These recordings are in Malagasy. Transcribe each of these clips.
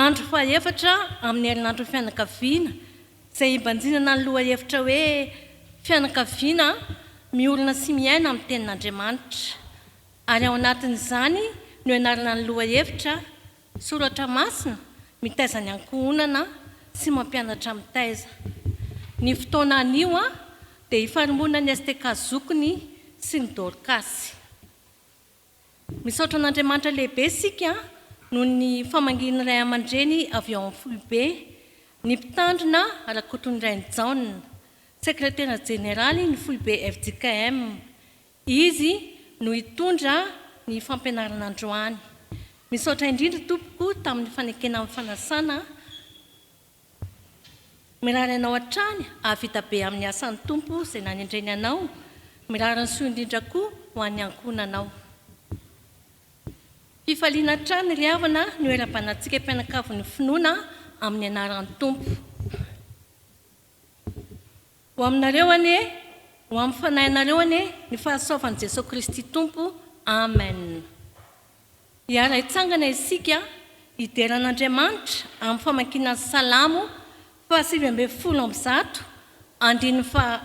Andro fahefatra amin'ny herinandron'ny fianakaviana izay ibanjinana ny lohahevitra hoe Fianakaviana miorina sy miaina amin'ny Tenin'Andriamanitra. Ary ao anatin'izany no ianarana ny lohahevitra, Soratra Masina mitaiza ny ankohonana sy mampianatra mitaiza. Ny fotoana anio dia ifarimbonan'ny STK Zokiny sy ny Dorkasy. Misaotra an'Andriamanitra lehibe isika noho ny famangian'ny ray aman-dreny avy ao amin'ny foibe, ny Mpitandrina Rakotonirainy Jaona, Sekretera Jeneraly ny foibe fjkm. Izy no hitondra ny fampianarana androany. Misaotra indrindra tompoko tamin'ny fanekena amin'ny fanasana. Mirary anao hatrany hahavita be amin'ny asan'ny Tompo izay nanendreny anao, mirary ny soa indrindra koa ho an'ny ankohonanao. Fifaliana hatrany ry havana ny hoerabanantsika mpianakavin'ny finoana amin'ny anaran'ny Tompo. Ho aminareo anie, ho amin'ny fanahinareo anie ny fahasoavan'i Jesoa Kristy Tompo. Amen. Hiara hitsangana isika hidera an'Andriamanitra amin'ny famakiana ny Salamo fahasivy ambin'ny folo amby zato, andininy faha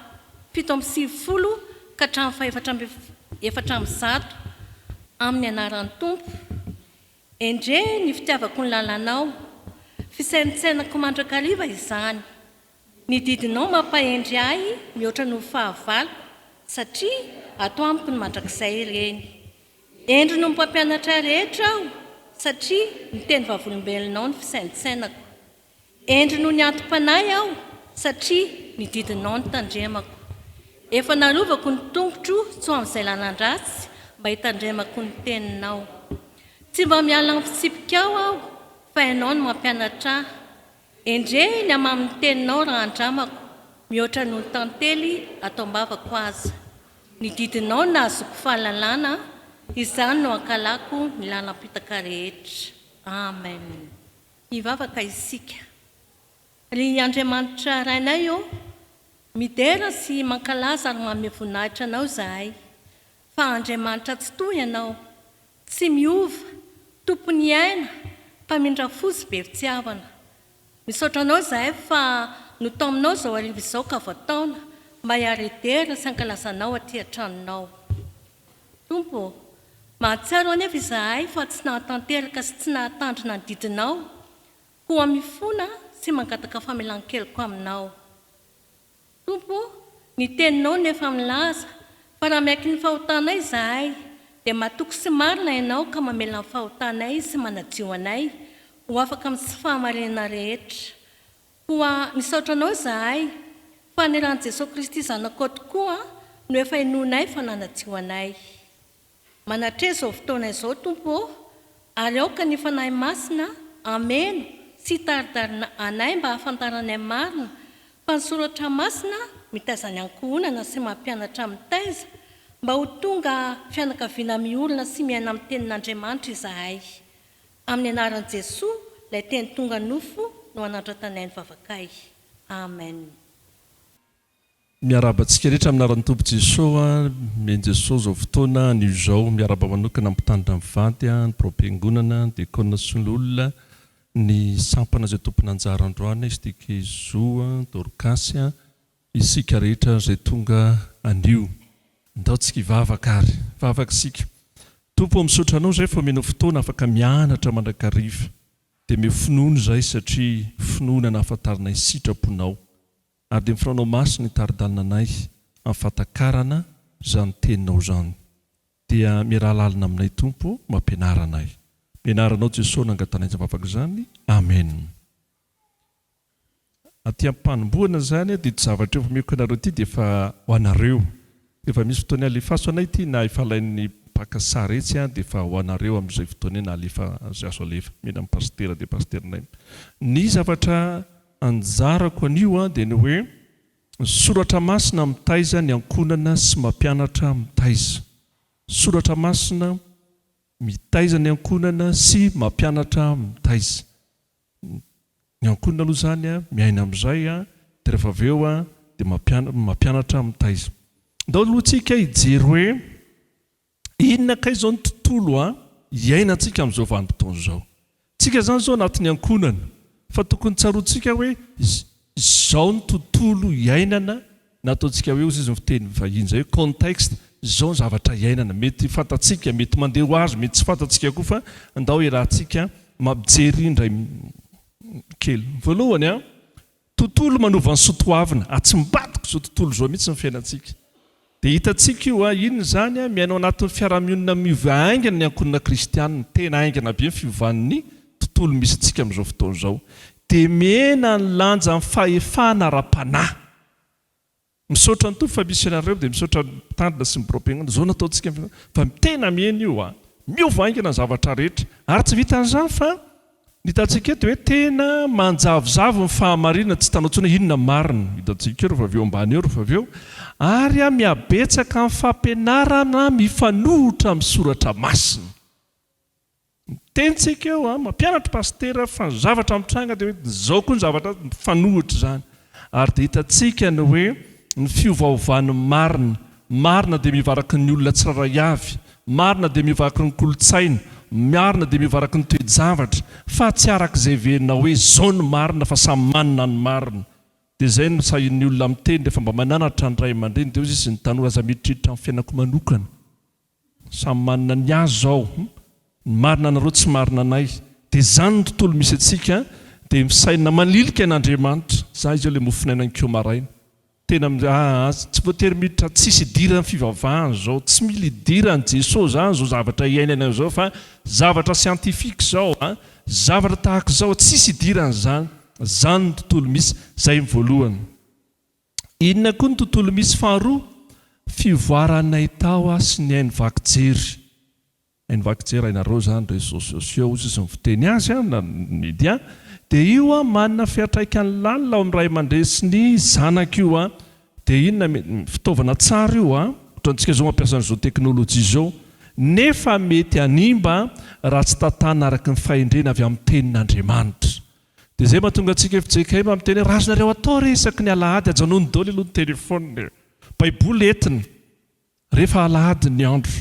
fito amby sivifolo ka hatramin'ny faha efatra amby efatra amby zato, amin'ny anaran'ny Tompo. Endrey ny fitiavako ny lalànao, fisaintsainako mandrakariva izany. Ny didinao mampahendry ahy mihoatra noho ny fahavaloko, satria ato amiko ny mandrakizay ireny. Hendry noho ny mpampianatra rehetra aho, satria miteny vavolombelonao ny fisaintsainako. Hendry noho ny anti-panahy aho, satria ny didinao no tandremako. Efa narovako ny tongotro tsy ho amin'izay lalan-dratsy, mba hitandremako ny teninao. Tsy mba miala amin'ny fitsipikao aho, fa ianao no mampianatra ahy. Endrey ny hamamin'ny teninao raha andramako mihoatra noho ny tantely ato am-bavako aza. Ny didinao nahazoako fahalalana, izany no hankalako ny lalam-pitaka rehetra. Amen. Hivavaka isika. Ry Andriamanitra Rainay ô, midera sy mankalaza ary manome voninahitra Anao izahay. Fa Andriamanitra Tsitoha Ianao, Tsy miova, Tompon'ny aina, Mpamindra fo sy be fitiavana. Misaotra Anao izahay fa no tao aminao izao hariva izao ka voataona mba hiara hidera sy hankalaza Anao aty an-tranonao. Tompo ô, mahatsiaro anefa izahay fa tsy nahatanteraka sy tsy nahatandrina ny didinao, koa mifona sy mangataka famelan-keloka aminao. Tompo o, ny Teninao no efa milaza, fa raha miaiky ny fahotanay izahay, dia matoky sy marina Ianao ka mamela ny fahotanay sy manadio anay ho afaka amin'ny tsy fahamarinana rehetra. Koa misaotra Anao izahay, fa ny ran'i Jesoa Kristy Zanakao tokoa no efa inoanay fa nanadio anay. Manatresa izao fotoana izao Tompo ô, ary aoka ny Fanahy Masina hameno sy hitaridarina anay mba hahafantaranay marina fa ny Soratra Masina mitaiza ny ankohonana sy mampianatra mitaiza mba ho tonga fianakaviana miorina sy miaina amin'ny Tenin'Andriamanitra izahay. Amin'ny Anaran'i Jesoa ilay Teny tonga nofo no hanandratanay ny vavakay. Amen. Miarahaba antsika rehetra amin'ny anaran'ny Tompo Jesoa, Amen Jesoa izao fotoana anio izao, miarahaba manokana ny mpitandrina mivady, ny biraom-piangonana, ny diakona sy ny olona, ny sampana izay tompon'anjara androany, STK Zo, Dorcas, isika rehetra izay tonga anio. Ndao tsika hivavaka ary, hivavaka isika. Tompo ô misaotra Anao izay fa omenao fotoana afaka mianatra mandrakariva, dia omeo finoana izahay satria finoana nahafantaranay sitraponao, ary dia mifanao maso ny tari-dalnanay amin'ny fahatakarana izany teninao izany, dia miaraha lalina aminay Tompo mampianara anay, ny anaranao Jesosy nangatanay izany vavaka izany, Amen. Aty am-panombohana izany dia ity zavatra efa omeko anareo ity dia efa ho anareo, rehefa misy fotoana halefaso anay ity na efa alain'ny mpaka sary etsy an dia efa ho anareo amin'izay fotoana io na alefa izay azo alefa, mila ny pasitera dia pasiterinay ny zavatra Anjarako anio dia ny hoe Soratra Masina mitaiza ny ankohonana sy mampianatra mitaiza. Soratra Masina mitaiza ny ankohonana sy mampianatra mitaiza. Ny ankohonana aloha izany miaina amin'izay dia rehefa avy eo dia mampianatra mitaiza. Andao aloha tsika hijery hoe Inona kay izao ny tontolo iainantsika amin'izao vanim-potoana izao? Tsika izany izao anatin'ny ankohonana fa tokony tsaroantsika hoe izao ny tontolo iainana na ataontsika hoe ozizy ny fiteny vahiny izay hoe contexte, izao ny zavatra iainana. Mety fantatsika, mety mandeha ho azy, mety tsy fantatsika koa fa ndao iarahantsika mampijery indray kely. Voalohany an! Tontolo manova ny soa toavina, atsimbadiko zao tontolo zao mihitsy ny fiainantsika. Dia hitantsika io a, inona izany a, miaina ao anatin'ny fiaraha-mionina miova haingana ny ankohonana kristianina, tena haingana be ny fiovan'ny tontolo misy antsika amin'izao fotoana izao. Dia mihena ny lanjan'ny fahefana ara-panahy. Misaotra an'Tompo fa misy anareo dia misaotra ny mpitandrina sy ny birao mpiangonana izao nataontsika fa tena mihena io a! Miova haingana ny zavatra rehetra ary tsy vitan'izany fa ny hitantsika eto hoe tena manjavozavo ny fahamarinana tsy hitanao intsony hoe inona ny marina hitantsika eo rehefa avy eo ambany eo rehefa avy eo ary a mihabetsaka ny fampianarana mifanohitra amin'ny soratra masina. Miteny tsika eo an, mampianatra Pasitera fa ny zavatra mitranga dia hoe izao koa ny zavatra mifanohitra izany. Ary dia hitantsika ny hoe ny fiovaovan'ny marina. Marina dia mivaraky ny olona tsirairay avy. Marina dia mivaraky ny kolontsaina. Marina dia mivaraky ny toe-javatra. Fa tsy araka izay heverinao hoe izao ny marina fa samy manana ny marina. Dia izay no sahin'ny olona miteny rehefa mba mananatra ny ray aman-dreny dia hoy izy ny tanora aza miditriditra ny fiainako manokana. Samy manana ny azy zao, ny marina anareo tsy marina anay, de zany ny tontolo misy antsika de misaina manilika an Andriamanitra, za izao le mofonaina nikeo maraina tena mi aa tsy voatery miditra tsisy idirany fivavahana zao tsy mila idirany Jeso zany zao zavatra iainana zao fa zavatra scientifique zao a zavatra tahakizao tsisy idirany zany, zany ny tontolo misy, zay ny voalohany. Inona koa ny tontolo misy faharoa? Fivoaranay tao aho sy ny haino vaky jery. Haino vaky jery hainareo izany réseaux sociaux hozy izy mivteny azy an, na ny media. Dia io an manana fiatraikany lalina ao amin'ny ray aman-dreny sy ny zanaka io an. Dia inona mety, fitaovana tsara io an, ohatra antsika izao mampiasa an'izao teknolojia izao, nefa mety hanimba raha tsy tantana araka ny fahendrena avy amin'ny tenin'Andriamanitra. Dia izay mahatonga antsika fjkm miteny hoe azonareo atao re isaky ny alahady ajanony daholo aloha ny téléphone e! baiboly entiny rehefa alahady ny andro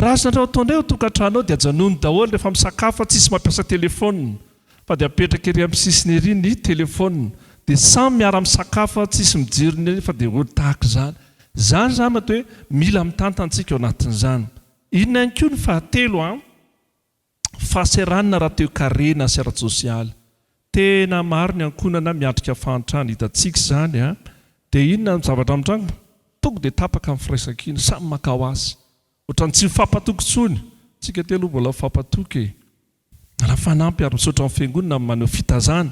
raha azonareo atao indray ao an-tokantrano ao dia ajanony daholo rehefa misakafo fa tsisy mampiasa téléphone fa dia apetraka ery amin'ny sisiny ery ny téléphone dia samy miara misakafo fa tsisy mijery ny fa dia ohatry tahaka izany izany izany mety hoe mila mitantana isika ao anatin'izany inona ihany koa ny fahatelo an! Fahasahiranana ara-toekarena sy ara-tsosialy. Tena maro ny ankohonana miatrika fahantrana, hitantsika izany a! Dia inona no zavatra mitranga? Tonga dia tapaka ny firaisankina, samy maka ho azy. Ohatran'ny tsy mifampatoky intsony. Tsika telo hono mbola mifampatoky e! Raha fanampy ary misaotra ny fiangonana amin'ny maneho fitazana,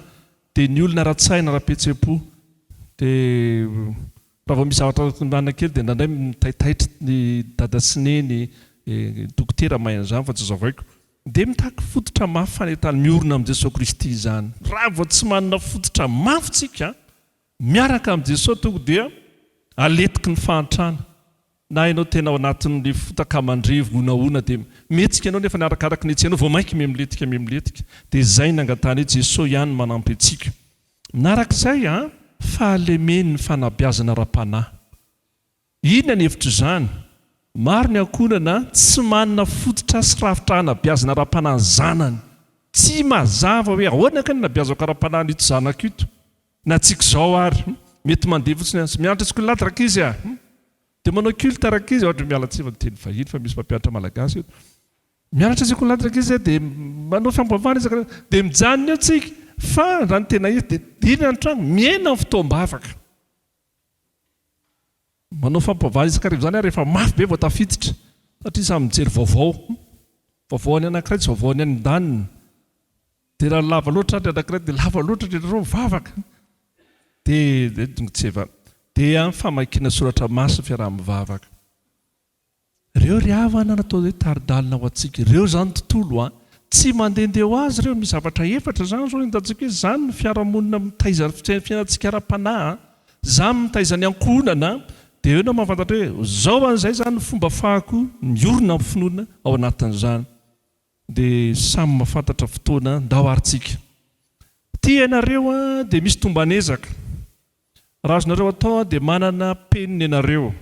dia ny olona ara-tsaina, ara-pihetsem-po dia Raha vao misy zavatra tondrahana kely dia indraindray mitaitaitra ny dada sy neny dokotera mahay an'izany fa tsy zavaiko. Dia mitaky fototra mafy fanentan'ny miorina amin'i Jesoa Kristy izany. Raha vao tsy manana fototra mafy tsika miaraka amin'i Jesoa tonga dia aletiky ny fahantrana. Na ianao tena ao anatin'ny fotaka mandrevo honahona dia mihetsika ianao nefa ny arakaraky ny hetsehanao vao mainka mihamiletika mihamiletika dia izay ny angatahanay Jesoa ihany manampy antsika manaraka izay a! Fahalemen'ny fanabeazana ara-panahy. Inona ny hevitr'izany? Maro ny ankohonana tsy manana fototra sy rafitra hanabeazana ara-panahy ny zanany. Tsy mazava hoe ahoana kay no nabeazako ara-panahy an'ito zanako ito? Na tsy k'izao ary, mety mandeha fotsiny aza. Mianatra skol'Atra rakizy a! Dia manao culte rakizy, ohatra, miala tsiny fa miteny vahiny fa misy mpampianatra malagasy eto. Mianatra sekolan'Atra rakizy a! Dia manao fiampavahana isan-karazany. Dia mijanona eo tsika, fa raha ny tena izy dia dila ny trano, mihena ny fotoam-bavaka. Manao fiampavahana isan-karazany izany ary rehefa mafy be vao tafiditra, satria samy mijery vaovao. Vaovaon'ny anankiray tsy vaovaon'ny any an-daniny. Dia raha lava loatra ny anankiray dia lava loatra ny anareo mivavaka. Dia tongotseva. Dia ny famakiana soratra masina fiaraha-mivavaka. Ireo ry havana natao hoe tari-dalana ho antsika. Ireo izany ny tontolo an. Tsy mandehandeha ho azy ireo. Misy zavatra efatra izany izao entantsika hoe izany ny fiarahamonina mitaiza ny fiainantsika ara-panahy an. Izany mitaiza ny ankohonana an. Dia eo ianao mahafantatra hoe izao an'izay izany ny fomba afahako miorina amin'ny finoana ao anatin'izany. Dia samy mahafantatra fotoana ndao ary tsika. Tia ianareo an dia misy tomban'ezaka. Raha azonareo atao an dia manana penina ianareo.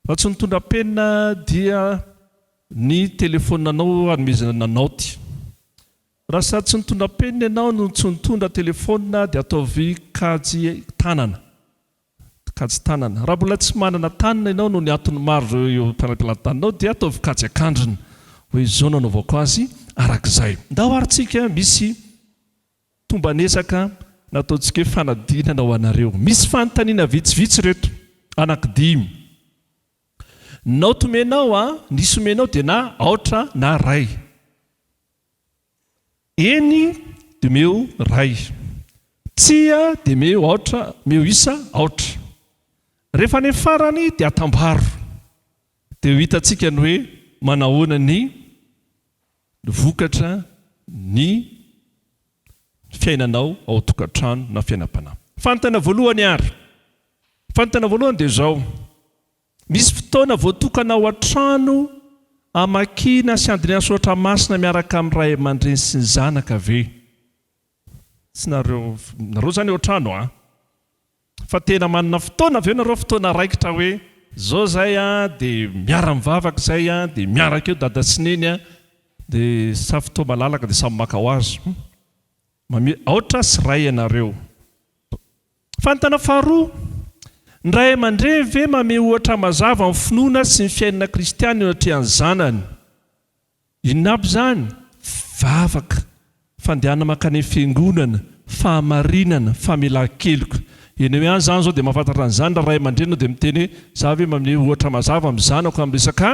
Raha tsy nitondra penina dia ny telefoninanao anomezana na naoty. Raha sady tsy nitondra penina ianao no tsy nitondra telefonina dia ataovy kajy tanana. Mpikajy tanana. Raha mbola tsy manana tanana ianao noho ny antony maro ireo eo am-pelataninao dia ataovy kajy an-kandrina. Hoe izao no anaovako azy araka izay. Ndao ary tsika misy tomban'ezaka nataontsika hoe fanadinana ho anareo. Misy fanontaniana vitsivitsy ireto, anankidimy. Naoty omenao a, nisy omenao dia na aotra na ray. Eny dia omeo iray. Tsia dia omeo aotra, omeo isa aotra. Rehefa any amin'ny farany dia atambaro. Dia ho hitantsika ny hoe manahoana ny vokatra ny fiainanao ao an-tokantrano na fiainam-panahy. Fanontaniana voalohany ary. Fanontaniana voalohany dia izao. Misy fotoana voatokana ao an-trano hamakiana sy handinihana soratra masina miaraka amin'ny ray aman-dreny sy ny zanaka ve? Tsy nareo, nareo izany ao an-trano an! Fa tena manana fotoana ve nareo, fotoana raikitra hoe izao izay an, dia miara-mivavaka izay an, dia miaraka eo dada sy neny an, dia sa fotoa malalaka dia samy maka ho azy? Aotra sy ray ianareo. Fanontana faharoa, Ny ray aman-dreny ve mamehy ohatra mazava amin'ny finoana sy ny fiainana kristiana eo anatrehan'ny zanany? Inona aby izany? Vavaka, fandehanana mankany fiangonana, fahamarinana, famelan-keloka. Ianao ihany izany izao dia mahafantatra an'izany raha ray aman-dreny ianao dia miteny hoe, Izaho ve mamehy ohatra mazava amin'ny zanako amin'ny resaka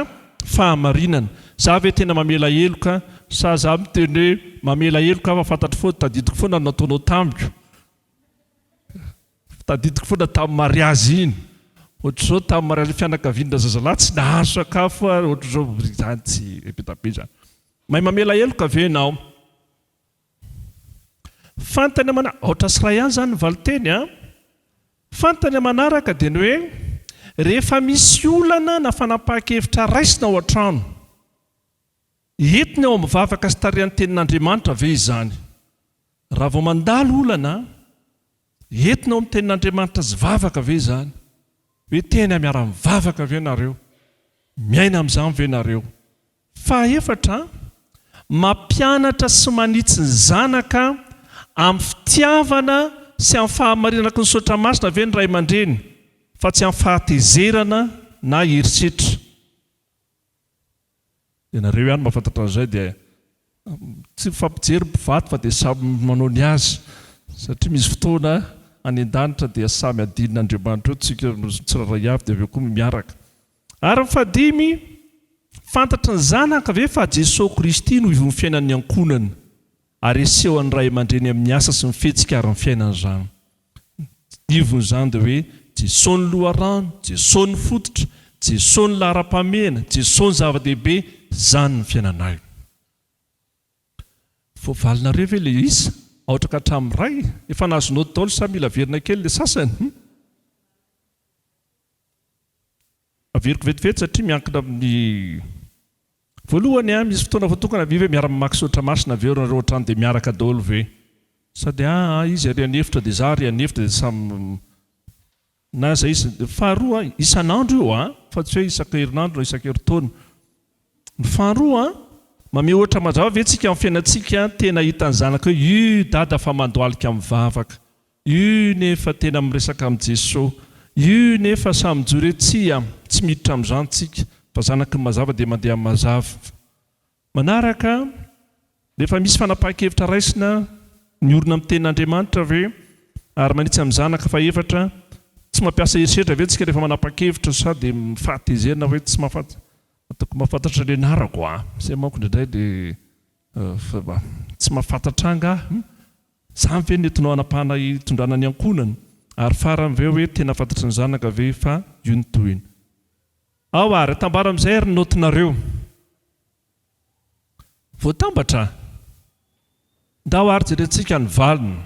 fahamarinana? Izaho ve tena mamela heloka? Sa izaho miteny hoe, Mamela heloka aho fa fantatro foana, tadidiko foana ny nataonao tamiko. Tadidiko foana tamin'ny mariazy iny, ohatr'izao tamin'ny mariazin'ny fianakavian-dra zazalahy tsy nahazo sakafo ary ohatr'izao izany tsy be dia be izany. Mahay mamela heloka ve ianao? Fantany amanaraka, aotra sy iray ihany izany ny valinteny an! Fantany amanaraka dia ny hoe rehefa misy olana na fanapahan-kevitra raisina ao an-trano, Entiny ao amin'ny vavaka sy tarihan'ny Tenin'Andriamanitra ve izany? Raha vao mandalo olana, entina ao amin'ny Tenin'Andriamanitra sy vavaka ve izany? Hoe tena miara-mivavaka ve nareo? Miaina amin'izany ve nareo? Fahefatra, mampianatra sy manitsy ny zanaka amin'ny fitiavana sy amin'ny fahamarinanaky ny Soratra Masina ve ny ray aman-dreny fa tsy amin'ny fahatezerana na herisetra? Ianareo ihany mahafantatra an'izay dia tsy mifampijery mpivady fa dia samy manao ny azy satria misy fotoana any an-danitra dia samy hadinina Andriamanitra eo tsika tsirairay avy dia avy eo koa miaraka. Ary ny fahadimy, fantatry ny zanaka ve fa Jesoa Kristy no ivon'ny fiainan'ny ankohonany? Ary asehon'ny ray aman-dreny amin'ny asa sy ny fihetsika ary ny fiainany izany. Ny ivon'izany dia hoe, Jesoa ny loharano, Jesoa ny fototra, Jesoa ny laharam-pahamehana, Jesoa ny zava-dehibe, izany ny fiainanay. Voavalinareo ve ilay isa? Aotra ka hatramin'ny iray? Efa nahazo naoty daholo sa mila averina kely ilay sasany? Averiko vetivety satria miankina amin'ny Voalohany a, misy fotoana voatokana ve ve miara mamaky soratra masina avy eo nareo ohatrany dia miaraka daholo ve? Sa dia a a izy ary any efitra dia za ary any efitra dia samy na izay izy Faharoa a, isan'andro io a, fa tsy hoe isaka herinandro na isaka herintaona. Ny faharoa a, mamehy ohatra mazava ve tsika amin'ny fiainantsika tena hitan'ny zanaka hoe ii dada fa mandohalika mivavaka. Yy nefa tena miresaka am Jeso yy nefa sa mijoro eo tsia tsy miditra am zany tsika fa zanaky ny mazava dia mandeha am mazava manaraka refa misy fanapahan-kevitra raisina miorina am tenin Andriamanitra ve ary manitsy am zanaka fahefatra tsy mampiasa herisetra ve tsika refa manapahan-kevitra sa dia mifahatezerana hoe tsy mahafantatro ataoko mahafantatro ny anarako a zay manko indraindray dia Fa tsy mahafantatra angaha? Hum! Zany ve no entinao hanapahana hitondrana ny ankohonana? Ary farany ve hoe tena fantatry ny zanaka ve fa io no tohiny? Ao ary, atambaro amin'izay ary ny naotinareo. Voatambatra? Ndao ary jerentsika ny valiny.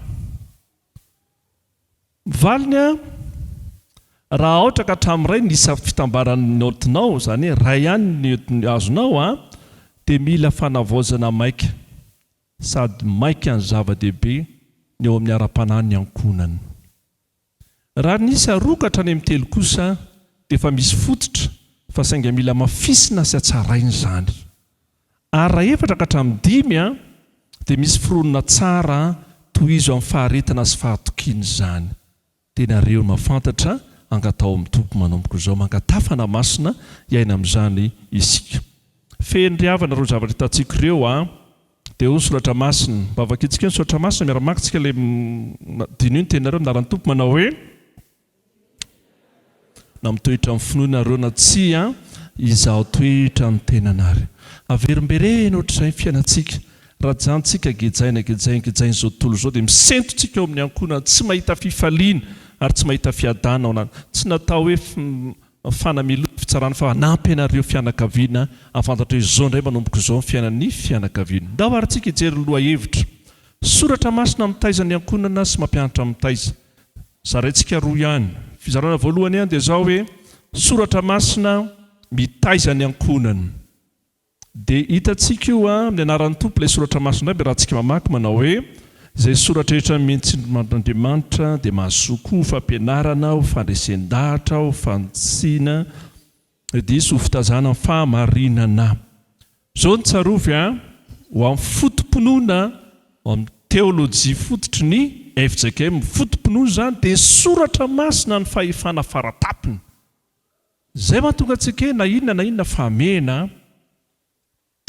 Valiny a, raha aotra ka hatramin'iray ny isa fitambaran'ny naotinao, izany hoe iray ihany ny naoty azonao a, dia mila fanavaozana maika sady maika ny zava-dehibe ny eo amin'ny ara-panahy ny ankohonana. Raha ny isa roa ka hatrany amin'ny telo kosa dia efa misy fototra fa sainga mila amafisina sy hatsaraina izany. Ary raha efatra ka hatramin'ny dimy dia misy fironona tsara tohizo amin'ny faharetana sy fahatokiana izany. Dia nareo mahafantatra angataho amin'ny Tompo manomboka izao mangataha fanahy masina hiaina amin'izany isika. Feno ry havana ireo zavatra hitantsika ireo a! Dia eo ny soratra masina. Mba vakintsika eo ny soratra masina miara-maka tsika ilay diniho ny teninareo ny anaran'ny Tompo manao hoe. Na mitoetra amin'ny finoana ireo na tsia, Izaho toetra ny tenany ary. Averimberena ohatr'izay ny fiainantsika. Raha ajanontsika gejaina, gejainy, gejain'izao tontolo izao, dia misento tsika ao amin'ny ankohonana, tsy mahita fifaliana ary tsy mahita fiadana ao anaty. Tsy natao hoe fanamelohana ny fitsarana fa hanampy anareo fianakaviana hahafantatra hoe izao indray manomboka izao ny fiainan'ny fianakaviana. Ndao ary tsika hijery ny lohahevitra. Soratra masina mitaiza ny ankohonana sy mampianatra mitaiza. Zaraintsika roa ihany. Fizarana voalohany an dia izao hoe soratra masina mitaiza ny ankohonany. Dia hitantsika io an amin'ny anaran'ny Tompo ilay soratra masina aby raha tsika mamaky manao hoe izay soratra rehetra mientsin'Andriamanitra dia mahazoa koa ho fampianarana, ho fandresen-dahatra, ho fanitsiana, Diso ho fitazana ny fahamarinana. Izao no tsarovy an, ho amin'ny foto-pinoana ao amin'ny teolojia fototry ny fjkm, ny foto-pinoana izany dia soratra masina ny fahefana fara-tampony. Izay mahatonga antsika hoe na inona na inona fa hamehana.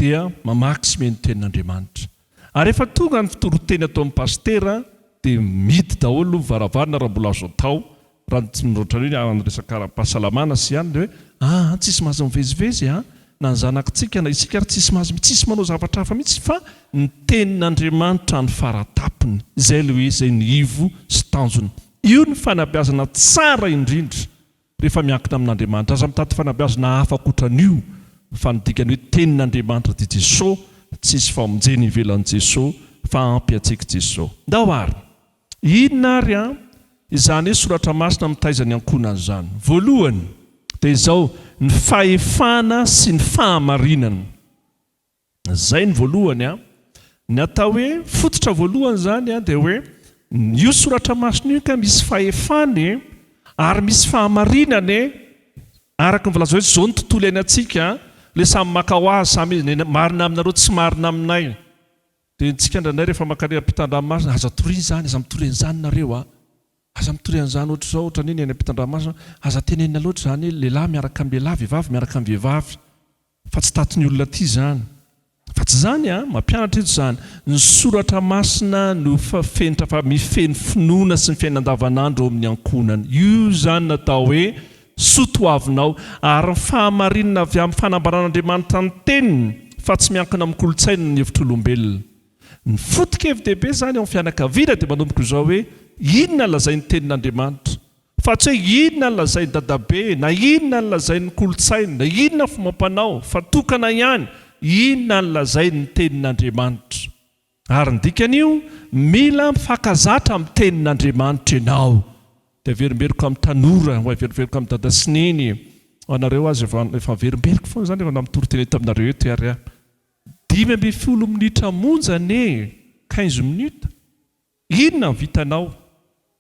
dia mamaky sy mihaino ny tenin'Andriamanitra. Ary rehefa tonga ny fitoron-teny ataon'ny pasitera dia mihidy daholo ny varavarana raha mbola azo atao, raha tsy ohatran'ny hoe amin'ny resaka ara-pahasalamana sy ihany dia hoe aa tsisy mahazo mivezivezy aa na ny zanakitsika na isika ary tsisy mahazo tsisy manao zavatra hafa mihitsy fa ny tenin'Andriamanitra no faratapony. Izay ilay hoe izay no ivo sy tanjona. Io no fanabeazana tsara indrindra. rehefa miankina amin'Andriamanitra. Aza mitady fanabeazana hafa ankoatran'io fa ny dikany hoe Tenin'Andriamanitra dia Jesosy, tsy hisy famonjena ivelan'i Jesosy fa ampy antsika i Jesosy. Ndao ary! Inona ary an izany hoe soratra masina mitaiza ny ankohonany izany? Voalohany dia izao, ny fahefana sy ny fahamarinana. Izay ny voalohany an! Ny atao hoe fototra voalohany izany an dia hoe io soratra masina io ka misy fahefany e! ary misy fahamarinany e! araka ny voalazanao izao ny tontolo iainantsika an! ilay samy maka ho azy samy izy ny marina aminareo tsy marina aminay dia antsika indraindray rehefa mankany ampitandranomasina aza mitoriana izany aza mitoriana izany nareo an! aza mitoriana izany ohatr'izao ohatra ny eny ampitandranomasina aza tenenina loatra izany lehilahy miaraka amin'ny lehilahy vehivavy miaraka amin'ny vehivavy Fa tsy tato ny olona ty zany. Fa tsy zany an, mampianatra eto zany. Ny soratra masina no fenitra fa mifehy ny finoana sy ny fiainana andavanandro ao amin'ny ankohonana. Io zany natao hoe soa toavinao. Ary ny fahamarinana avy amin'ny fanambaran'Andriamanitra ny teniny fa tsy miankina amin'ny kolontsaina na ny hevitr'olombelona. Ny foto-kevi-dehibe zany ao amin'ny fianakaviana dia manomboka izao hoe inona lazain'ny tenin'Andriamanitra. Fa tsy hoe inona ny lazain'i dadabe, na inona ny lazain'ny kolontsaina, na inona ny fomba ampanao, fa tokana ihany inona ny lazain'ny tenin'Andriamanitra. Ary ny dikan'io, mila mifankazatra amin'ny tenin'Andriamanitra ianao. Dia averimberiko amin'ny tanora, ho averimberiko amin'ny dada sy neny, ho anareo aza efa efa averimberiko foana izany efa na mitory teny eto aminareo eto ary aho. Dimy ambin'ny folo minitra monja anie e! Quinze minutes. Inona no vitanao?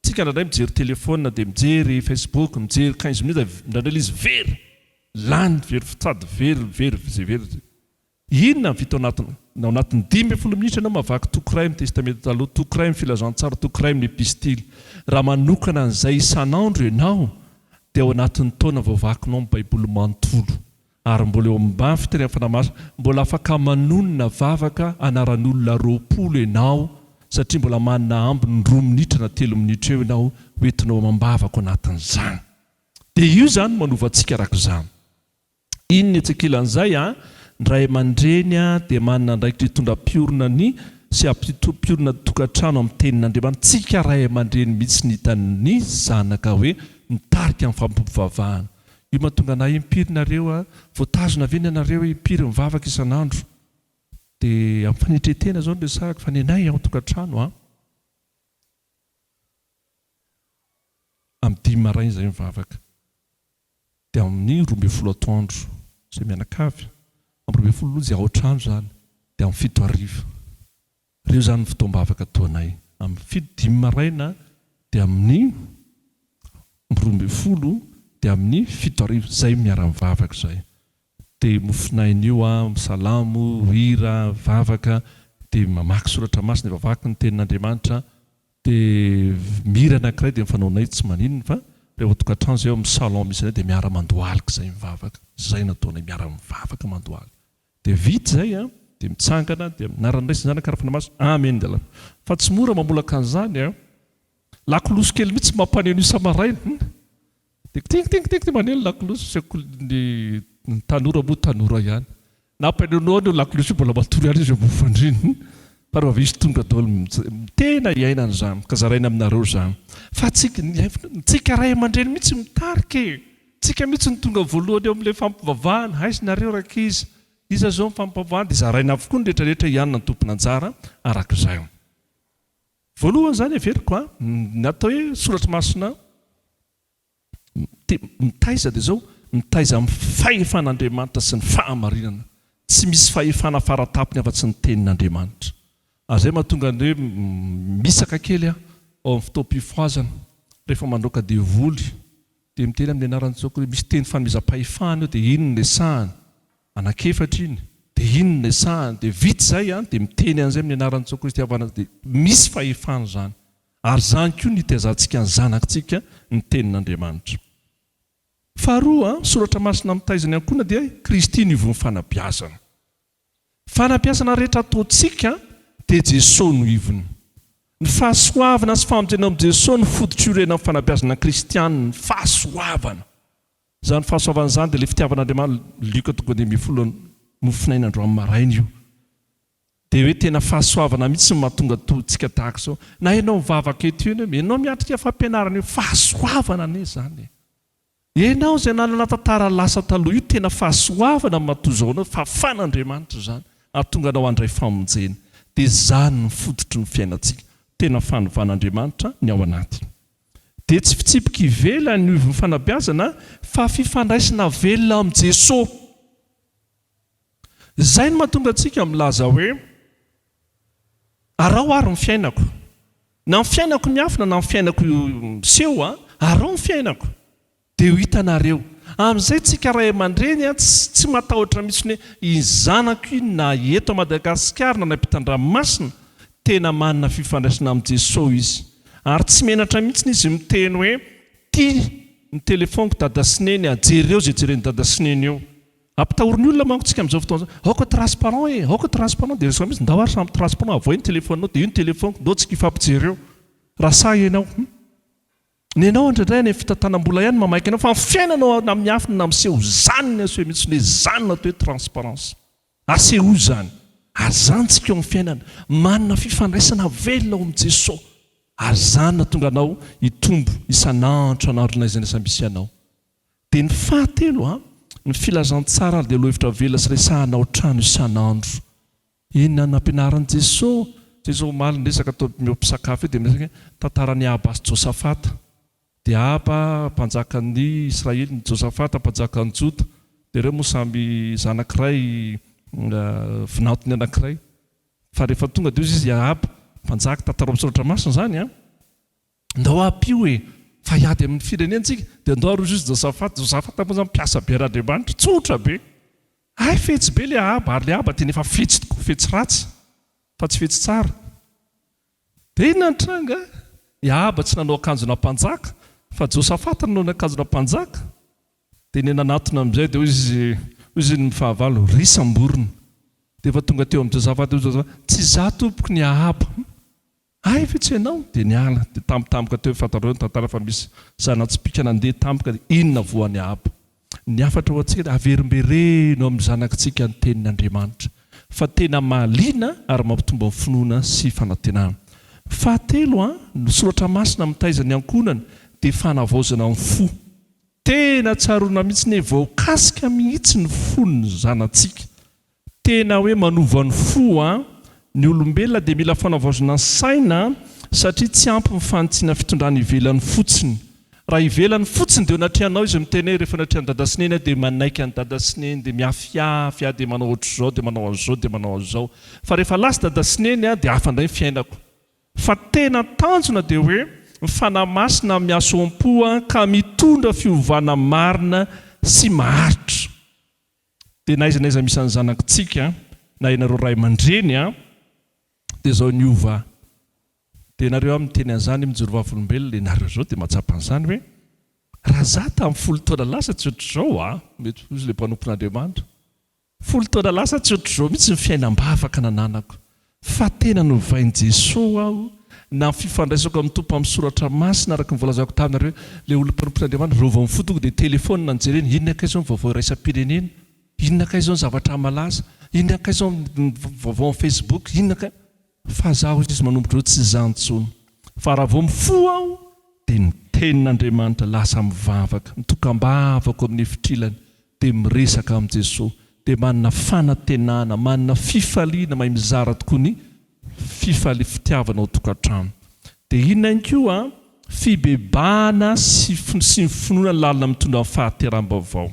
Tsika indraindray mijery telephone dia mijery facebook mijery quinze minutes dia indraindray ilay izy very lany very fitsady very very izay very zay. Inona no vita ao anatin'ny ao anatin'ny dimy ambin'ny folo minitra ianao mavaky toko iray amin'ny testamenta taloha toko iray amin'ny filazantsara toko iray amin'ny epistily raha manokana an'izay isan'andro ianao dia ao anatin'ny taona vao vakinao ny baiboly manontolo Ary mbola eo amin'ny bandy fiterena fanahy masina, mbola afaka manonona vavaka anaran'olona roapolo ianao satria mbola manana ambiny roa minitra na telo minitra eo ianao ho entinao amam-bavako anatin'izany. Dia io izany no manova antsika araka izany. Iny ny etsy ankilan'izay an, ny ray aman-dreny an dia manana andraikitra hitondra mpiorina ny sy hampimpiorina ny tokantrano amin'ny tenin'Andriamanitra. Tsika ray aman-dreny mihitsy no hitan'ny zanaka hoe mitarika amin'ny fampivavahana. Io mahatonga anah impiry nareo a! Voatazona ve ny anareo impiry mivavaka isan'andro? Dia amin'ny fanetren-tena izao no resahako fa ny anay ao an-tokantrano a! Amin'ny dimy maraina izahay mivavaka. Dia amin'ny roa ambin'ny folo atoandro izahay mianakavy. Amin'ny roa ambin'ny folo lonja ao an-trano izany. Dia amin'ny fito hariva. Reo zany fotoam-bavaka toa anay. Amin'ny fito dimy maraina dia amin'ny roa ambin'ny folo dia amin'ny fito arivo zay miara-mivavaka zay. Dia mofonaina io an, salamo, hira, vavaka, dia mamaky soratra masina dia vavaky ny tenin'Andriamanitra, dia mihira anankiray dia ny fanaonay tsy maninona fa reo ao an-tokantrano zay ao amin'ny salon misy anay dia miara-mandohalika zay mivavaka. Zay no ataonay miara-mivavaka mandohalika. Dia vita izay an! Dia mitsangana dia mianara ny resiny zany ka rafina maso amen dia lany. Fa tsy mora mamolaka an'izany an! Lakolosy kely mihitsy mampaneo an'io samaraina an! Dia kting kting kting maneo ny lakolosy sy ny ny tanora moa tanora ihany. Nampaneoneony io lakolosy io mbola matory ihany izy eo ambony fandriana fa rehefa avy eo izy tonga daholo. Tena iaina an'izany ka zaraina aminareo izany fa tsy ny tsika ray aman-dreny mihitsy mitarika e! Tsika mihitsy no tonga voalohany eo amin'ilay fampivavahana, aiza nareo rankizy? Iza zao ny fampivavahana? Dia zaraina avokoa ny rehetra rehetra hianona ny tompon'anjara araka izay. Voalohany izany heveriko a, ny atao hoe soratra masina mitaiza dia izao, mitaiza amin'ny fahefan'Andriamanitra sy ny fahamarinana, tsy misy fahefana faratapony afa-tsy ny tenin'Andriamanitra. Ary izay mahatonga ny hoe misaka kely aho ao amin'ny fotoam-pifohazana rehefa mandroaka devoly Dia miteny amin'ny anaran'i Jesoa Kristy. Misy teny famezam-pahefana eo dia iny no resahany. Anankiefatra iny. Dia iny no resahany. Dia vita izay an, dia miteny an'izay amin'ny anaran'i Jesoa Kristy havanana dia misy fahefana izany. Ary izany koa no iteazantsika ny zanakintsika ny tenin'Andriamanitra. Faharoa, soratra masina mitaiza ny ankohona dia Kristy no ivon'ny fanabeazana. Fanampiasana rehetra ataontsika dia Jesoa no ivony. Ny fahasoavana sy famonjena ao amin'i Jesoa no fototr'iorenan'ny fanampiasana kristiana ny fahasoavana. Izany fahasoavana izany dia ilay fitiavan'Andriamanitra, Lioka toko fahaenina ambin'ny folo, nofonaina androany maraina io. Dia hoe tena fahasoavana mihitsy no mahatonga antsika tahaka izao. Na ianao mivavaka eto io, ianao miatrika fampianarana io, fahasoavana anie izany e! Ianao izay nanana tantara lasa taloha io tena fahasoavana matoa izao anao fahafan'Andriamanitra izany hahatonga anao handray famonjena dia izany ny fototry ny fiainantsika tena fanovan'Andriamanitra ny ao anaty dia tsy fitsipika ivelany io fanabeazana fa fifandraisana velona amin'i Jesoa Izay no mahatonga antsika milaza hoe, Araho àry ny fiainako. Na ny fiainako miafina na ny fiainako miseho, araho ny fiainako, dia ho hitanareo. Amin'izay isika ray aman-dreny tsy matahotra mihitsy hoe iny zanako iny na eto Madagasikara na any am-pitan-dranomasina, tena manana fifandraisana amin'i Jesosy izy. Ary tsy menatra mihitsy izy miteny hoe, Ity ny telefaoniko Dada sy Neny, jereo izay jeren'i Dada sy Neny eo. Ampitahorin'ny olona manko tsika amin'izao fotoana izao, aoka transparent e, aoka transparent, dia resaka mihintsy, ndao ary samy transparent, avoay ny telefoninao, dia io ny telefoniko, ndao tsika hifampijery eo, raha sahy ianao, hum. Nenao indraindray any amin'ny fitantanam-bola ihany no mamaika anao, fa ny fiainanao na amin'ny afiny na amin'ny seho, izany ny aseho mihintsy, hoe izany no atao hoe transparence. Asehoy izany, ary izany tsika eo amin'ny fiainana, manana fifandraisana velona ao amin'i Jeso, ary izany no hahatonga anao hitombo isan'andro isan'andro na aiza na aiza misy anao. Dia ny fahatelo a, ny filazantsara dia lohahevitra avela sy resahana ao an-trano isan'andro. Inona no nampianarin'i Jesoa? Jesoa omaly niresaka tao eo am-pisakafo eo dia miresaka hoe tantaran'i Ahaba sy Josafata. Dia Ahaba mpanjakan'ny Israely, ny Josafata mpanjakan'ny Joda. Dia ireo moa samy zanak'iray vinantony anankiray. Fa rehefa tonga dia hoy izy Ahaba, mpanjaka, tantarao am-pisoratra masina izany a. Ndao hampio e! Fa hiady amin'ny firenena tsika dia ndao aroso izy Josafat, Josafat moa zany mpiasa be randriamanitra, tsotra be! Hay fetsy be le Ahaba ary le Ahaba tena efa fetsy tokoa, fetsy ratsy fa tsy fetsy tsara. Dia inona ny tranga? I Ahaba tsy nanao akanjona mpanjaka fa Josafat nanao ny akanjona mpanjaka, dia ny nanatona amin'izay dia hoy izy, hoy izy ny fahavalo, ry samborina! Dia efa tonga teo amin'i Josafat, hoy Josafat, tsy izaho tompoko ny Ahaba. Hay ve tsy ianao? Dia niala, dia tampotampoka teo, fantatrareo ny tantara fa misy zana-tsipìka nandeha tampoka, dia inona voany Ahaba? Ny hafatra ao an-tsehatra, averimbereno amin'ny zanakitsika ny tenin'Andriamanitra, fa tena mahaliana ary mampitombo amin'ny finoana sy fanantenana. Fahatelo, ny soratra masina mitaiza ny ankohonany dia fanavaozana ny fo. Tena tsaroana mihitsy ny hoe voakasika mihitsy ny fon'ny zanatsika Tena hoe manova ny fo an! Ny olombelona dia mila fanavaozina ny saina satria tsy ampy ny fanitsiana fitondrana ivelany fotsiny. Raha ivelany fotsiny dia anatrehanao izy miteny hoe rehefa anatrehan'i dada sy neny aho dia manaiky an'i dada sy neny dia miafiafy aho dia manao ohatr'izao dia manao an'izao dia manao an'izao fa rehefa lasa dada sy neny aho dia hafa indray ny fiainako. Fa tena tanjona dia hoe ny Fanahy Masina amin'ny hasoam-po an ka mitondra fiovana marina sy maharitra. Dia na aiza na aiza misy an'ny zanakitsika an, na ianareo ray aman-dreny an, dia izao niova, dia ianareo an miteny an'izany, mijoro vavolombelona ianareo izao, dia mahatsapa an'izany hoe, raha izaho tamin'ny folo taona lasa tsy ohatr'izao an, mety hoy ilay mpanompon'Andriamanitra, folo taona lasa tsy ohatr'izao mihitsy ny fiainam-bavaka nananako, Fa tena novain'i Jesoa aho na ny fifandraisako amin'ny Tompo amin'ny soratra masina araka ny voalazako taminareo, ilay olona mpanompoin' Andriamanitra, raha ovao ny fo tonga dia telefaonina any jerena, inona kay izao ny vaovao iraisam-pirenena, inona kay izao ny zavatra malaza, inona kay izao ny vaovao amin'ny Facebook, inona kay. Fa za hoy izy manomboka izao tsy izany intsony, fa raha vao mifoha aho dia ny tenin' Andriamanitra lasa mivavaka, mitokam-bavako amin'ny efitrilany, dia miresaka amin'i Jesoa, dia manana fanantenana, manana fifaliana, mahay mizara tokoa ny fifali, fitiavana ao tokantrano. Dia inona ihany koa? Fibebahana sy sy ny finoana lalina mitondra amin'ny fahateram-baovao.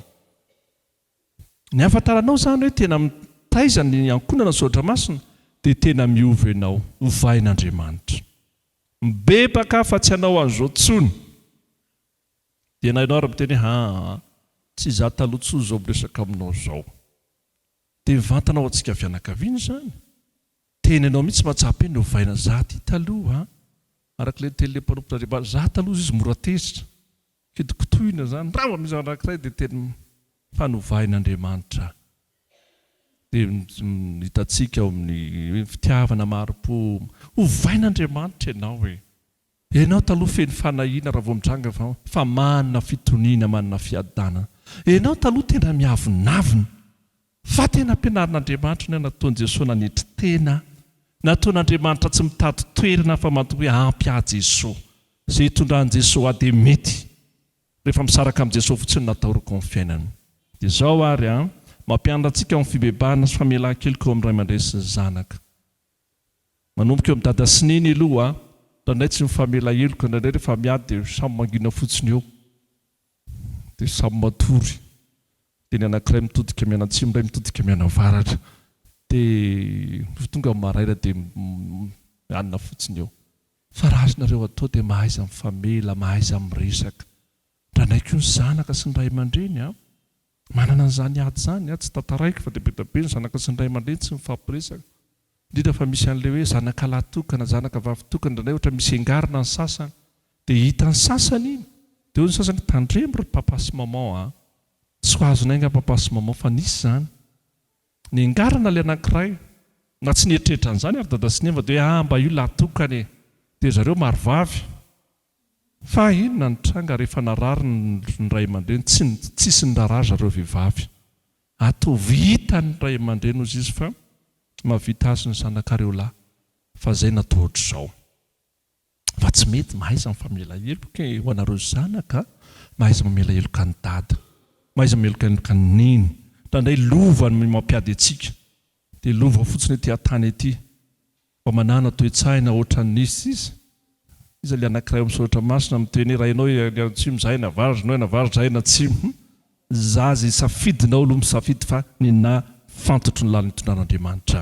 Ny ahafantaranao izany hoe tena mitaiza ny ankohonana ny Soratra Masina dia tena miova ianao, ovain'Andriamanitra. Mibebaka fa tsy hanao an'izao intsony. Dia na ianao ary miteny hoe aa tsy izaho taloha intsony izao miresaka aminao izao. Dia mivantana ao antsika fianakaviana izany. Tena ianao mihitsy mahatsapa hoe novaina izaho ity taloha a! Araka ilay nitenin'ilay mpanompon'Andriamanitra, izaho taloha izy mora tezitra, kitokotohina izany, raha vao misy zavatra anankiray dia teny fa novain'Andriamanitra aho. Dia hitantsika ao amin'ny hoe fitiavana mari-po, hovain'Andriamanitra ianao e! Enao taloha feno fanahiana raha vao mitranga fa fa manana fitoniana manana fiadana enao taloha tena miavonavona fa tena ampianarin'Andriamanitra ny nataon'i Jesoa nanetry tena nataon'Andriamanitra tsy mitady toerana fa manto hoe ampy ahy Jesoa ze itondran'i Jesoa ahy dia mety rehefa misaraka amin'i Jesoa fotsiny no atahorako ny fiainana dia zao ary an mampianatra antsika ny fibebahana sy famelan-keloka eo amin'ny Ray aman-dReny sy ny zanaka. Manomboka eo am dada sy neny aloha a! Indraindray tsy mifamela heloka, indraindray rehefa miady dia samy mangina fotsiny eo. Dia samy matory. Dia ny anankiray mitodika mianatsimo, ny iray mitodika mianavaratra. Dia rehefa tonga ny maraina dia mianina fotsiny eo. Fa raha azonareo atao dia mahaiza mifamela, mahaiza miresaka. Indraindray koa ny zanaka sy ny ray aman-dreny a! Manana an'izany ady izany aho, tsy tantaraiko fa dia be dia be ny zanaka sy ny ray aman-dreny tsy mifampiresaka, indrindra fa misy an'ilay hoe zanaka lahy tokana, zanaka vavy tokana, indraindray ohatra misy engarina ny sasany dia hitan'ny sasany iny dia hoy ny sasany tandremo ry papa sy maman a! tsy ho azonay nga papa sy maman fa nisy izany nengarina ilay anankiray na tsy nieritreritra an'izany ary dada sy neva dia hoe ah mba io lahy tokana e! dia zareo maro vavy Fa inona ny tranga rehefa narary ny ray aman-dreny? Tsy ny tsisy ny raharaha ry zareo vehivavy. Ataovy hita ny ray aman-dreny hozy izy fa mahavita azy ny zanakareo lahy. Fa izay na toa ohatr'izao. Fa tsy mety mahaiza mifamela heloka e ho anareo zanaka a! Mahaiza mamela heloka an'i dada. Mahaiza mameloka heloka an'i neny. Indraindray lova no mampiady antsika. Dia lova fotsiny ety an-tany ety. Mba manana toe-tsaina ohatran'ny izy sisa. Iza ilay anankiray ao amin'ny soratra masina mitohy anie, raha ianao ilay antsimo izahay navarotra anao, navarotra izahay an'atsimo. Hum. Izaho izay safidinao aloha misafidy fa ny nahafantotro ny lalin'ny tondrahan'Andriamanitra.